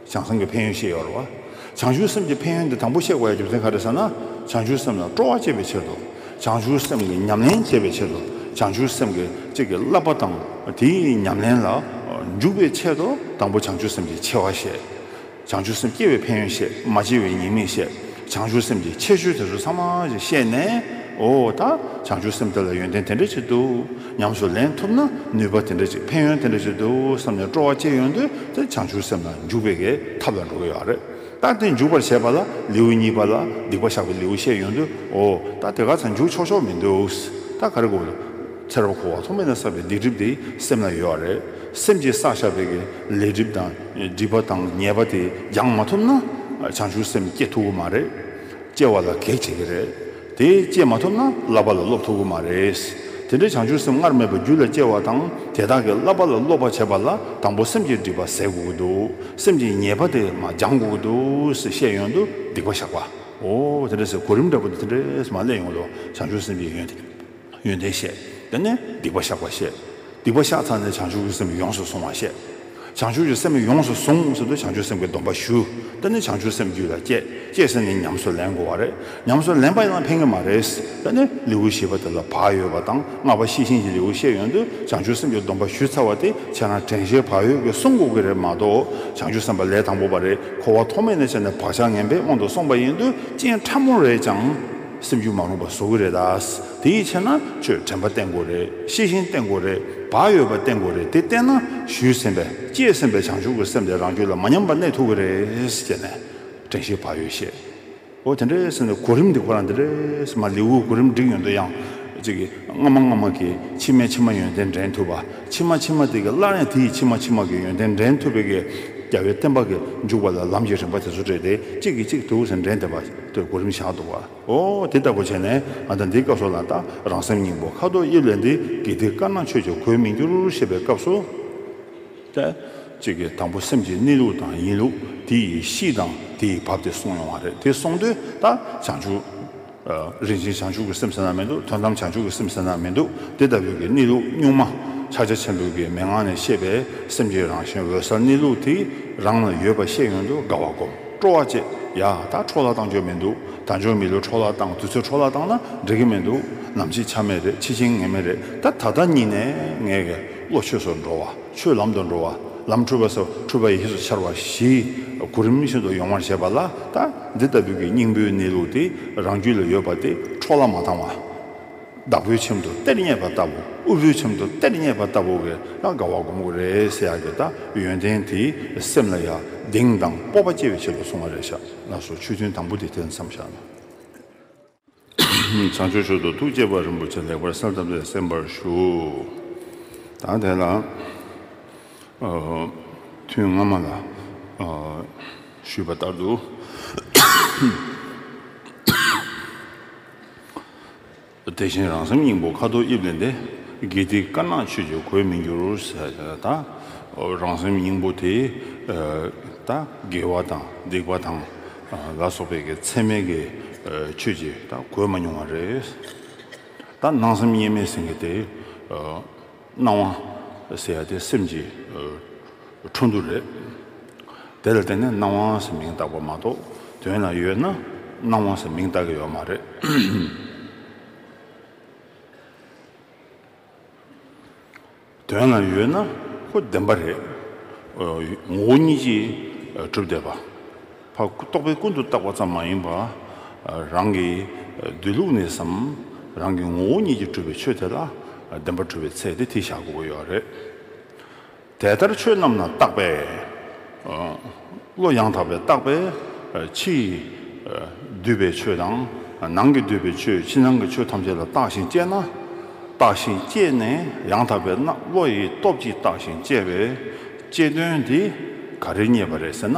བྱང་སེམས་ཀྱི་ཕན་ཡོན་ཤེས་ཡོར་བ། བྱང་ཆུབ་སེམས་ཀྱི་ཕན་ཡོན་འདི་དང་པོ་གཤེགས་པའི་རྒྱུ་མཚན་ག་རེ་ཟེར་ན། བྱང་ཆུབ་སེམས་ལ་སྤྲོ་བ་བསྐྱེད་པའི་ཕྱིར་དུ། བྱང་ཆུབ་སེམས་ཀྱི་ཉམས་ལེན་བྱེད་པའི་ཕྱིར་དུ། བྱང་ཆུབ་སེམས་ཀྱི་གཅིག་གི་བསླབ་པ་དང་དེའི་ཉམས་ལེན་ལ་འཇུག་པའི་ཆེད་དུ་དང་པོ་བྱང་ཆུབ་སེམས་ཀྱི་ཆེ་བ་བཤད། བྱང་ཆུབ་སེམས་སྐྱེ་བའི་ཕན་ཡོན་བཤད་མ་སྐྱེ་བའི་ཉེས་དམིགས་བཤད། བྱང་ཆུབ་སེམས་ཀྱི་ཆེ་ཆུང་དེ་ཚོ་ཚང་མ་བཤད་ནས། འོ་ད་བྱང་ཆུབ་སེམས་དེ་ལ་ཡོན་ཏན་དེ་འདྲ་ཅིག་འདུག། ཉམས་སུ་ལེན་ཐུབ་ན་ནུས་པ་དེ་འདྲ་ཅིག་ཕན་ཡོན་དེ་འདྲ་ཅིག་འདུག་བསམ་ནས་སྤྲོ་བ་སྐྱེས་ཡོང་དུས་དེ་བྱང་ཆུབ་སེམས་ལ་འཇུག་པའི་གེགས་ཐབས་ལ་འགྲོ་གི་ཡོད་རེད། ལྟ་དེ་འཇུག་པར་བྱེད་པ་ལ་ལེའུ་གཉིས་པ་ལ་སྡིག་པ་བཤགས་པའི་ལེའུ་བཤད་ཡོང་དུས་འོ་ད་དེ་ག་ཚང་འཇུག་ཆོག་ཆོག་མི་འདུག་ད་ག་རེ་དགོས་རེད། ཚེར་བ་ཁུ་བ་ཐོག་མེད་ན་བསགས་པའི་སྡིག་སྒྲིབ་དེ་སེམས་ལ་ཡོད་རེད། སེམས་ཀྱིས་བསགས་བཞག་པའི་གེགས་ལས་སྒྲིབ་དང་སྒྲིབ་པ་དང་ཉེས་པ་དེ་སྦྱང་མ་ཐུབ་ན་བྱང་ཆུབ་སེམས་སྐྱེ་ཐུབ་ཀྱི་མ་རེད། སྐྱེ་བ་ལ་གེགས་བྱེད་ཀྱི་རེད། དེ་སྐྱེས་མ་ཐུབ་ན་བསླབ་པ་ལ་སློབ་ཐུབ་ཀྱི་མ་རེད། དེ་འདྲའི་བྱང་ཆུབ་སེམས་སྔར་མེད་པ་རྒྱུད་ལ་སྐྱེ་བ་དང་དེ་དག་གིས་བསླབ་པ་ལ་སློབ་པར་བྱེད་པ་ལ་དང་པོ་སེམས་ཀྱི་སྒྲིབ་པ་ཟད་དགོས་ཀྱི་འདུག་སེམས་ཀྱི་ཉེས་པ་དེ་མ་སྦྱང་དགོས་ཀྱི་འདུག་ཟེར་བཤད་ཡོང་དུ་སྡིག་པ་བཞག་པ་འོ་དེ་འདྲ་ཟེར་གོ་རིམ་འདྲ་པོ་དེ་འདྲས་སུ་མ་སླེབས་ཡོང་དུ་བྱང་ཆུབ་སེམས་ཀྱི་ཡོན་ཏན། ཡོན་ཏན་བཤད། དེ་ནས་སྡིག་པ་བཤགས་པ་བཤད། སྡིག་པ་བཤགས་ཚར་ནས་བྱང་ཆུབ་ཀྱི་སེམས་ཡོངས་སུ་བཟུང་བ་བཤད། བྱང་ཆུབ་ཀྱི་སེམས་ཡོངས་སུ་བཟུང་ཟེར་དུས་བྱང་ཆུབ་སེམས་ཀྱི་སྡོམ་པ་ཞུ། དེ་ནས་བྱང་ཆུབ་སེམས་རྒྱུད་ལ་སྐྱེས། སྐྱེས་ཟེར་ནས་ཉམས་སུ་ལེན་དགོས་བ་རེད། ཉམས་སུ་ལེན་པ་ཡང་ཕན་གྱི་མ་རེད། དེ་ནས་ལེའུ་བཞི་པ་དེ་ལ་བག་ཡོད་པ་དང་ལྔ་པ་ཤེས་བཞིན་གྱི་ལེའུ་བཤད་ཡོང་དུས་བྱང་ཆུབ་སེམས་ཀྱི་སྡོམ་པ་ཞུས་ཚར་བ་དེ་བྱས་ན་དྲན་ཤེས་བག་ཡོད་ཀྱིས་བསྲུང་དགོས་ཀྱི་རེད་མ་གཏོགས་བྱང་ཆུབ་སེམས་པ་ལས་དང་པོ་བ་རེད་འཁོར་བ་ཐོག་མེད་ནས་བྱས་ནས་བག་ཆགས་ངན་པས་དབང་དུ་སོང་བ་ཡིན་དུས་རྐྱེན་ཕྲ་མོ་རེད་ཀྱང། སེམས་ཤུགས་མ་རུངས་པ་བཟོ་གི་རེད་དཱ། དེ་ཡི་ཕྱིར་ན་ཁྱོད་དྲན་པ་བསྟེན་དགོས་རེད་ཤེས་བཞིན་བསྟེན་དགོས་རེད་བག་ཡོད་པ་བསྟེན་དགོས་རེད་དེ་བསྟེན་ན་ཞུས་ཟིན་པའི་སྐྱེས་ཟིན་པའི་བྱང་ཆུབ་ཀྱི་སེམས་དེ་རང་རྒྱུད་ལ་མ་ཉམས་པར་གནས་ཐུབ་ཀྱི་རེད་ཅེས་ནས་དྲན་ཤེས་བག་ཡོད་བཤད། འོ་དེ་འདྲའི་སེམས་དེ་གོ་རིམ་དེ་ཁོ་རང་དེ་འདྲས་མ་ལེའུའི་གོ་རིམ་བསྒྲིགས་ཡོང་དུས་ཡང་ཅིག་སྔ་མ་སྔ་མ་གི་ཕྱི་མའི་ཕྱི་མ་ཡོན་ཏན་འདྲེན་ཐུབ་པ་ཕྱི་མ་ཕྱི་མ་དེ་གི་སླར་ཡང་དེ་ཡི་ཕྱི་མ་ཕྱི་མ་གི་ཡོན་ཏན་འདྲེན་ཐུབ་པའི་གི་རྒྱ་བའི་བསྟན་པ་གི་འཇུག་པ་ལ་ལམ་གྱི་རིམ་པ་དེ་ཚོ་བྲིས་ཏེ་གཅིག་གིས་གཅིག་དུག་ཟེར་འདྲེན་ཐེབས་པ། ལྟོས་གོ་རིམ་བཞག་འདུག་བ་འོ། དེ་ལྟ་བུ་བྱས་ནས་ང་ད་འདི་སྐབས་སུ་ལ་ལྟ་རང་སེམས་སྙིང་པོ་ཁ་དོག་དབྱིབས་ལས་འདི་དགེ་སྡིག་དཀར་ནག་ཆོས་ཀྱི་གོས་མི་འགྱུར་ཞེས་པའི་སྐབས་སུ། ལྟོས། གཅིག་གིས་དང་པོ་སེམས་ཀྱི་གནས་ལུགས་དང་ཡིན་ལུགས་དེ་ཡི་གཤིས་དང་དེ་ཡི་བབས་དེ་གསུངས་ཡོང་བ་རེད་དེ་སོང་དུས་ད་བྱང་ཆུབ། རིན་ཆེན་བྱང་ཆུབ་ཀྱི་སེམས་ཟེར་ན་མི་འདུག་དོན་དམ་བྱང་ཆུབ་ཀྱི་སེམས་ཟེར་ན་མི་འདུག་དེ་ལྟ་བུའི་གི་གནས་ལུགས་གཉུག་མ་ཕྱག་རྒྱ་ཆེན་པོའི་གི་མན་ངག་ནས་བཤད་པའི་སེམས་ཀྱི་རང་བཞིན་འོད་གསལ་གནས་ལུགས་དེ་རང་ལ་ཡོད་པ་ཤེས་ཡོང་དུ་དགའ་བ་སྒོམ། སྤྲོ་བ་བཅས་ཡག་ད་འཕྲོ་བརླག་བཏང་ཆོག་མི་འདུག་ད་འབྱོར་མི་ལོས་འཕྲོ་བརླག་བཏང་དུས་ཚོད་འཕྲོ་བརླག་བཏང་ན་འགྲིག་གི་མི་འདུག་ནམ་ཕྱིས་ཆ་མེད་རེད་ཕྱི་ཆིངས་ངེས་མེད་རེད་ད་ད་ལྟ་གཉིས་ནས་ངས་ཀྱི་བློ་ཆོས་སུ་འགྲོ་བ་ཆོས་ལམ་དུ་འགྲོ་བ་ལམ་འཁྲུལ་པ་སོ་འཁྲུལ་པ་ཡིས་སུ་འཆར་བ་ཞིག་གོ་རིམ་བཞིན་དུ་ཡོང་བར་བྱེད་པ་ལ་ད་འདི་ལྟ་བུའི་གྱི་སྙིང་པོའི་གནས་ལུགས་དེ་རང་རྒྱུད་ལ་ཡོད་པ་དེ་འཕྲོ་བརླག་མ་བཏང་བ། བདག་པོའི་ཁྱིམ་དུ་གཏེར་རྙེད་པ་ལྟ་བུ་དབུལ་པོའི་ཁྱིམ་དུ་གཏེར་རྙེད་པ་ལྟ་བུ་བས་ན་དགའ་བ་བསྒོམ་དགོས་རེད་ཟེར་ཡག་གི་ད་ཡོན་ཏན་དེས་སེམས་ལ་ཡ་གདེང་དང་སྤོབས་པ་སྐྱེ་བའི་ཆེད་དུ་གསུང་བ་རེད་ཤག་ལགས་སོ་ཆོས་ཐུན་དང་པོ་དེ་དེར་མཚམས་བཞག་ན། བྱང་ཆུབ་ཤོག་ཏུ་ཐུགས་བསྐྱེད་པ་རིན་པོ་ཆེ་ལེགས་པར་གསན་ཐབས་ལས་གསན་པར་ཞུ། ད་དེ་ལ་ཐུན་སྔ་མ་ལ་ཞུས་པ་ལྟར་དུ། དེ་བཞིན་རང་སེམས་སྙིང་པོ་ཁ་དོག་དབྱིབས་ལས་འདས། དགེ་སྡིག་དཀར་ནག་ཆོས་ཀྱི་གོས་མི་འགྱུར། རང་སེམས་སྙིང་པོ་དེ་དགེ་བ་དང་སྡིག་པ་དང་ལ་སོགས་པའི་ཚད་མེད་ཀྱི་ཆོས་ཀྱི་གོས་མ་མྱོང་བ་རེད། སྣང་སེམས་གཉིས་མེད་ཟིན་གྱི་དེ། སྣང་བ་ཟེར་བ་དེ་སེམས་ཀྱི་འཕྲོ་འདུ་རེད། དེ་ལ་བརྟེན་ནས་སྣང་བ་ཟེར་མིང་བཏགས་པ་མ་གཏོགས་དོན་ལ་ཡོད་ན་སྣང་བ་ཟེར་མིང་བཏགས་ཀྱི་ཡོད་མ་རེད། དོན་ལ་ཡོད་ན་ཁོ་བདེན་པ་རེད། ངོ་བོ་ཉིད་ཀྱིས་གྲུབ་བསྡད་པ། བར་རྟོག་པས་ཀུན་ཏུ་བརྟགས་པ་ཙམ་མ་ཡིན་པར། རང་གི་སྡོད་ལུགས་ནས་སམ། རང་གི་ངོ་བོ་ཉིད་ཀྱིས་གྲུབ་པའི་ཆོས་དེ་ལ་བདེན་པར་གྲུབ་པའི་ཚད་དེ་ཐིག་བཞག་དགོས་ཀྱི་རེད། དེ་ལྟར་ཆོས་རྣམས་ལ་བརྟགས་པས། བློ་ཡང་དག་པས་བརྟགས་པས་ཕྱིའི་སྡུད་པའི་ཆོས་དང། ནང་གི་སྡུད་པའི་ཆོས་ཕྱི་ནང་གི་ཆོས་ཐམས་ཅད་ལ་བརྟགས་ཤིང་དཔྱད་ན། བརྟགས་ཤིང་དཔྱད་ནས་ཡང་དག་པའི་བློ་ཡི་སྟོབས་ཀྱིས་བརྟགས་ཤིང་དཔྱད་པའི་དཔྱད་དོན་དེ་ག་རེ་རྙེད་པ་རེད་ཟེར་ན།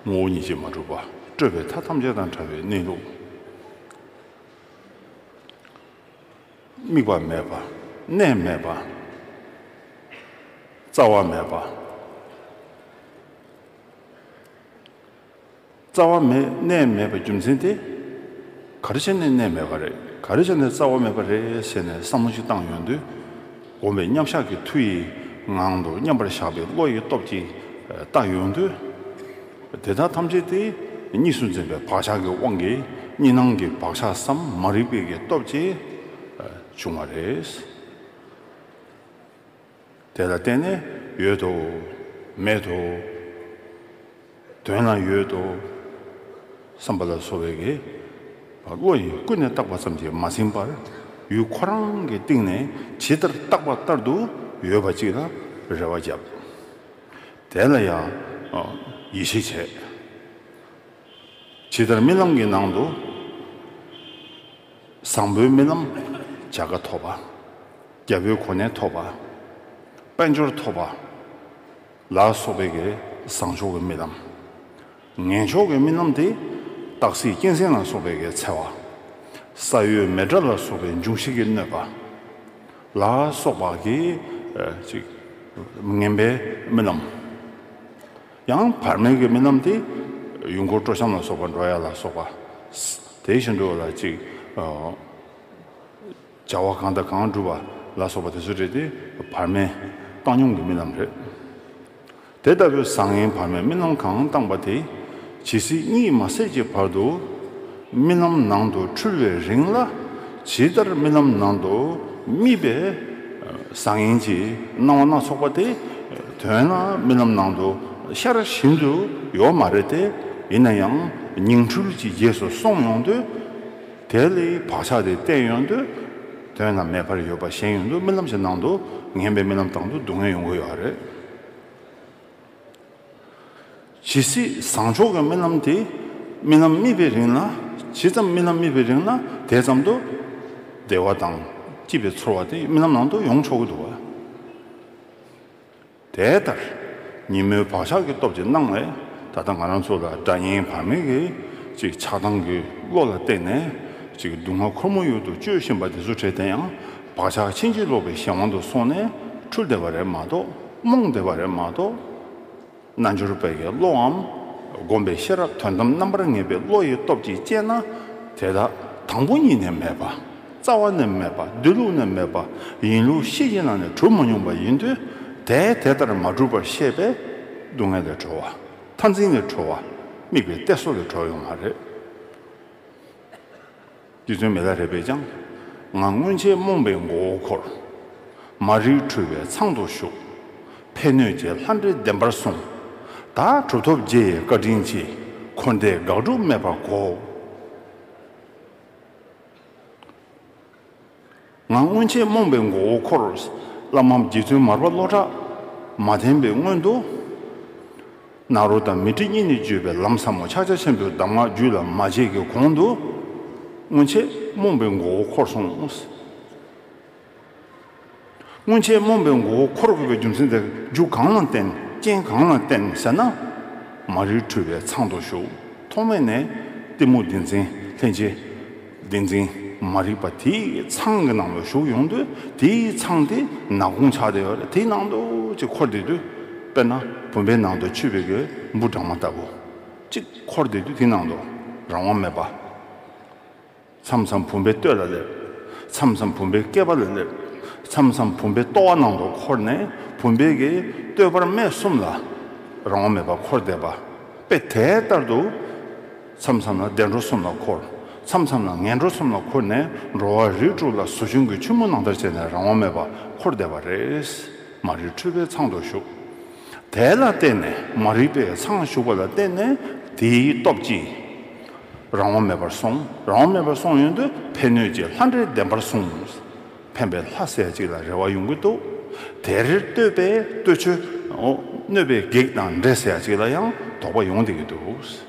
ངོ་བོ་ཉིད་ཀྱིས་མ་གྲུབ་པ་སྤྲོས་པའི་མཐའ་ཐམས་ཅད་དང་བྲལ་བའི་གནས་ལུགས། དམིགས་པ་མེད་པ། གནས་མེད་པ། རྩ་བ་མེད་པ། རྩ་བ་མེད་གནས་མེད་པའི་རྒྱུ་མཚན་དེ། ག་རེ་བྱས་ནས་གནས་མེད་པ་རེད་ག་རེ་བྱས་ནས་རྩ་བ་མེད་པ་རེད་ཟེར་ནས་བསམ་བློ་ཞིག་བཏང་ཡོང་དུས། བསྒོམ་པའི་མཉམ་བཞག་གི་མཐུ་ཡིས་ངང་དུ་མཉམ་པར་བཞག་པའི་བློ་ཡི་སྟོབས་ཀྱིས་བརྟགས་ཡོང་དུས། དེ་དག་ཐམས་ཅད་དེ་གཉིས་སུ་འཛིན་པའི་བག་ཆགས་ཀྱི་དབང་གིས་གཉིས་སྣང་གི་བག་ཆགས་སམ་མ་རིག་པའི་ཀྱི་སྟོབས་ཀྱིས་བྱུང་བ་རེད། དེ་ལ་བརྟེན་ནས་ཡོད་དོ། མེད་དོ། དོན་ལ་ཡོད་དོ། བསམ་པ་ལ་སོགས་པའི་གེགས་བ་བློ་ཡིས་ཀུན་ནས་བརྟགས་པ་ཙམ་གྱིས་མ་ཟིན་པར་ཡུལ་ཁོ་རང་གི་སྟེང་ནས་ཇི་ལྟར་བརྟགས་པ་ལྟར་དུ་ཡོད་པ་གཅིག་ལ་རེ་བ་བརྒྱབ། དེ་ལ་ཡང་ཡིད་ཆེས་བྱས། ཇི་ལྟར་རྨི་ལམ་གྱི་ནང་དུ་བཟང་པོའི་རྨི་ལམ་བྱ་དགའ་ཐོབ་པ། རྒྱལ་པོའི་གོ་གནས་ཐོབ་པ། དཔལ་འབྱོར་ཐོབ་པ། ལ་སོགས་པའི་ཀྱེ་བཟང་མཆོག་གི་རྨི་ལམ། ངན་ཕྱོགས་ཀྱི་རྨི་ལམ་དེ། སྟག་གཟིག་སྐྱེངས་སེང་ལ་སོགས་པའི་ཀྱེ་འཚལ་བ། ས་གཡོས་མེ་དགྲ་ལ་སོགས་པའི་འབྱུང་བཞི་ཀྱི་གནོད་པ། ལ་སོགས་པ་ཀྱེ། ཅིག། ངན་པའི་རྨི་ལམ། ཡང་བར་མེད་ཀྱི་རྨི་ལམ་དེ། ཡུལ་འཁོར་སྤྲོ་འཆམ་ལ་སོགས་པ་འགྲོ་ཡ་ལ་སོགས་པ། དེ་བཞིན་དུ་ལ་ཅིག། བྱ་བ་གང་དང་གང་བསྒྲུབ་པ་ལ་སོགས་པ་དེ་ཚོ་རེད་དེ། བར་མའི་བཏང་སྙོམས་ཀྱི་རྨི་ལམ་རེད། དེ་ལྟ་བུའི་བཟང་ངན་བར་མའི་རྨི་ལམ་གང་བཏང་པ་དེ་ཇི་སྲིད་གཉིད་མ་སད་ཀྱི་བར་དུ། རྨི་ལམ་ནང་དུ་འཁྲུལ་བའི་རིང་ལ། ཇི་ལྟར་རྨི་ལམ་ནང་དུ་རྨིས་པའི་བཟང་ངན་གྱི་སྣང་བ་སྣ་ཚོགས་པ་དེ། དོན་ལ་རྨི་ལམ་ནང་དུ་ཤར་བཞིན་དུ་ཡོད་མ་རེད་དེ། ཡིན་ན་ཡང་ཉིང་འཁྲུལ་གྱི་རྗེས་སུ་སོང་ཡོང་དུས། དེ་ལས་བག་ཆགས་དེ་གཏན་ཡོང་དུས་དོན་རྣམས་མེད་པར་ཡོད་པ་གཞན་ཡོང་དུས་རྨི་ལམ་གྱི་ནང་དུ་ངན་པའི་རྨི་ལམ་དང་དུ་སྡུག་བསྔལ་ཡོང་གི་ཡོད་རེད། ཇི་སྲིད་བཟང་ཕྱོགས་ཀྱི་རྨི་ལམ་དེ་རྨི་ལམ་རྨིས་པའི་རིང་ལ་ཇི་ཙམ་རྨི་ལམ་རྨིས་པའི་རིང་ལ་དེ་ཙམ་དུ་བདེ་བ་དང་སྐྱིད་པའི་ཚོར་བ་དེ་རྨི་ལམ་ནང་དུ་ཡོང་ཆོག་གི་འདུག་བ། དེ་ལྟར་ཉིན་མོའི་བག་ཆགས་ཀྱི་སྟོབས་ཀྱིས་སྣང་བས་ད་ལྟ་ང་རང་ཚོ་ལ་སྒྲ་སྙན་བར་མེད་ཀྱི་ཅིག་ཆགས་སྡང་གི་བློ་ལ་བརྟེན་ནས་ཅིག་སྡུག་བསྔལ་ཁོར་མོ་ཡུལ་དུ་སྤྱོད་བཞིན་པ་འདི་ཚོ་བྲལ་དེ་ཡང་བག་ཆགས་ཕྱིན་ཅི་ལོག་པའི་གཞན་དབང་དུ་སོང་ནས་འཁྲུལ་བདེ་བ་རེད་མ་གཏོགས་རྨོངས་བདེ་བ་རེད་མ་གཏོགས། རྣལ་འབྱོར་པའི་ཀྱི་བློའམ་བསྒོམས་པའི་ཤེས་རབ་དོན་དམ་རྣམ་པར་ངེས་པའི་བློ་ཡི་སྟོབས་ཀྱིས་བསྐྱེད་ན་དེ་དག་དང་པོ་ཉིད་ནས་མེད་པ། རྩ་བ་ནས་མེད་པ་སྡོད་ལུགས་ནས་མེད་པ་ཡིན་ལུགས་གཤིས་ཀྱི་ནང་ནས་གྲུབ་མ་མྱོང་པ་ཡིན་དུས་དེས་དེ་ལྟར་མ་གྲུབ་པར་ཤེས་པས། སྡུག་བསྔལ་ལས་གྲོལ་བ། མཐར་འཛིན་ལས་གྲོལ་བ། དམིགས་པའི་གཏད་སོ་ལས་གྲོལ་བ་ཡོང་བ་རེད། རྒྱུ་མཚན་མེད་ལ་རེ་བས་ཀྱང་ང་སྔོན་ཆད་རྨོངས་པའི་མགོ་བོ་འཁོར། མ་རིག་འཁྲུལ་བའི་ཚང་དུ་ཞུགས། ཕན་གནོད་ཀྱི་ལྷ་འདྲེ་བདེན་པར་བཟུང། ད་གྲུབ་ཐོབ་རྗེ་ཡི་བཀའ་དྲིན་གྱིས་འཁོར་འདས་དགག་སྒྲུབ་མེད་པར་གོ། ང་སྔོན་ཆད་རྨོངས་པའི་མགོ་བོ་འཁོར། བླ་མའམ་རྗེ་བཙུན་མར་པ་བློ་གྲགས་མ་བསྟེན་པའི་སྔོན་དུ། ནཱ་རོ་དང་མི་ཏྲི་གཉིས་ནི་སྤྱོད་པའི་ལམ་ཟབ་མོ་ཕྱག་རྒྱ་ཆེན་པོའི་གདམས་ངག་རྒྱུད་ལ་མ་བྱས་ཀྱི་གོང་དུ། སྔོན་ཆད་རྨོངས་པའི་མགོ་བོ་འཁོར་སོང། སྔོན་ཆད་རྨོངས་པའི་མགོ་བོ་འཁོར་དགོས་པའི་རྒྱུ་མཚན་དེ་རྒྱུ་གང་ལ་བརྟེན་རྐྱེན་གང་ལ་བརྟེན་ཟེར་ན། མ་རིག་འཁྲུལ་བའི་ཚང་དུ་ཞུགས་ཐོག་མེད་ནས་གཏི་མུག་བདེན་འཛིན་ལྷན་སྐྱེས་བདེན་འཛིན་མ་རིག་པ་དེའི་ཚང་གི་ནང་དུ་ཞུགས་ཡོང་དུས་དེའི་ཚང་དེ་ནག་ཀུང་ཆགས་དེ་དེའི་ནང་དུ་ཅིག་འཁོར་བསྡད་དུས། དཔེར་ན་བུམ་པའི་ནང་དུ་ཆུ་བེད་ཀྱི་འབུ་སྦྲང་མ་ལྟ་བུ་ཅིག་འཁོར་བསྡད་དུས་དེའི་ནང་དུ་རང་དབང་མེད་པ། མཚམས་མཚམས་བུམ་པའི་སྟོད་ལ་སླེབ། མཚམས་མཚམས་བུམ་པའི་རྐེད་པ་ལ་སླེབ། མཚམས་མཚམས་བུམ་པའི་ལྟོ་བ་ནང་དུ་འཁོར་ནས་བུམ་པའི་གའི་སྟོད་བར་སྨད་གསུམ་ལ་རང་དབང་མེད་པར་འཁོར་བསྡད་པ། དཔེ་དེ་ལྟར་དུ། མཚམས་མཚམས་ལ་བདེ་འགྲོ་གསུམ་ལ་འཁོར། མཚམས་མཚམས་ལ་ངན་འགྲོ་གསུམ་ལ་འཁོར་ནས་འགྲོ་བ་རིགས་དྲུག་ལ་ཟོ་ཆུན་གྱི་ཆུན་མོ་ནང་ལྟར་བྱས་ནས་རང་དབང་མེད་པར་འཁོར་བསྡད་པ་རེད། མ་རིག་འཁྲུལ་པའི་ཚང་དུ་ཞུགས། དེ་ལ་བརྟེན་ནས་མ་རིག་པའི་ཚང་ཞུགས་པ་ལ་བརྟེན་ནས་དེའི་སྟོབས་ཀྱིས། རང་དབང་མེད་པར་སོང། རང་དབང་མེད་པར་སོང་ཡོན་དུ་ཕན་གནོད་ཀྱི་ལྷ་འདྲེ་བདེན་པར་བཟུང། ཕན་པའི་ལྷ་སྲས་གཅིག་ལ་རེ་བ་ཡོང་གི་འདུག་དེར་བསྟོད་པས་བསྟོད་ཆོས། གནོད་པའི་བགེགས་དང་འདྲེ་སྲས་གཅིག་ལ་ཡང་དོགས་པ་ཡོང་བསྡད་ཀྱི་འདུག།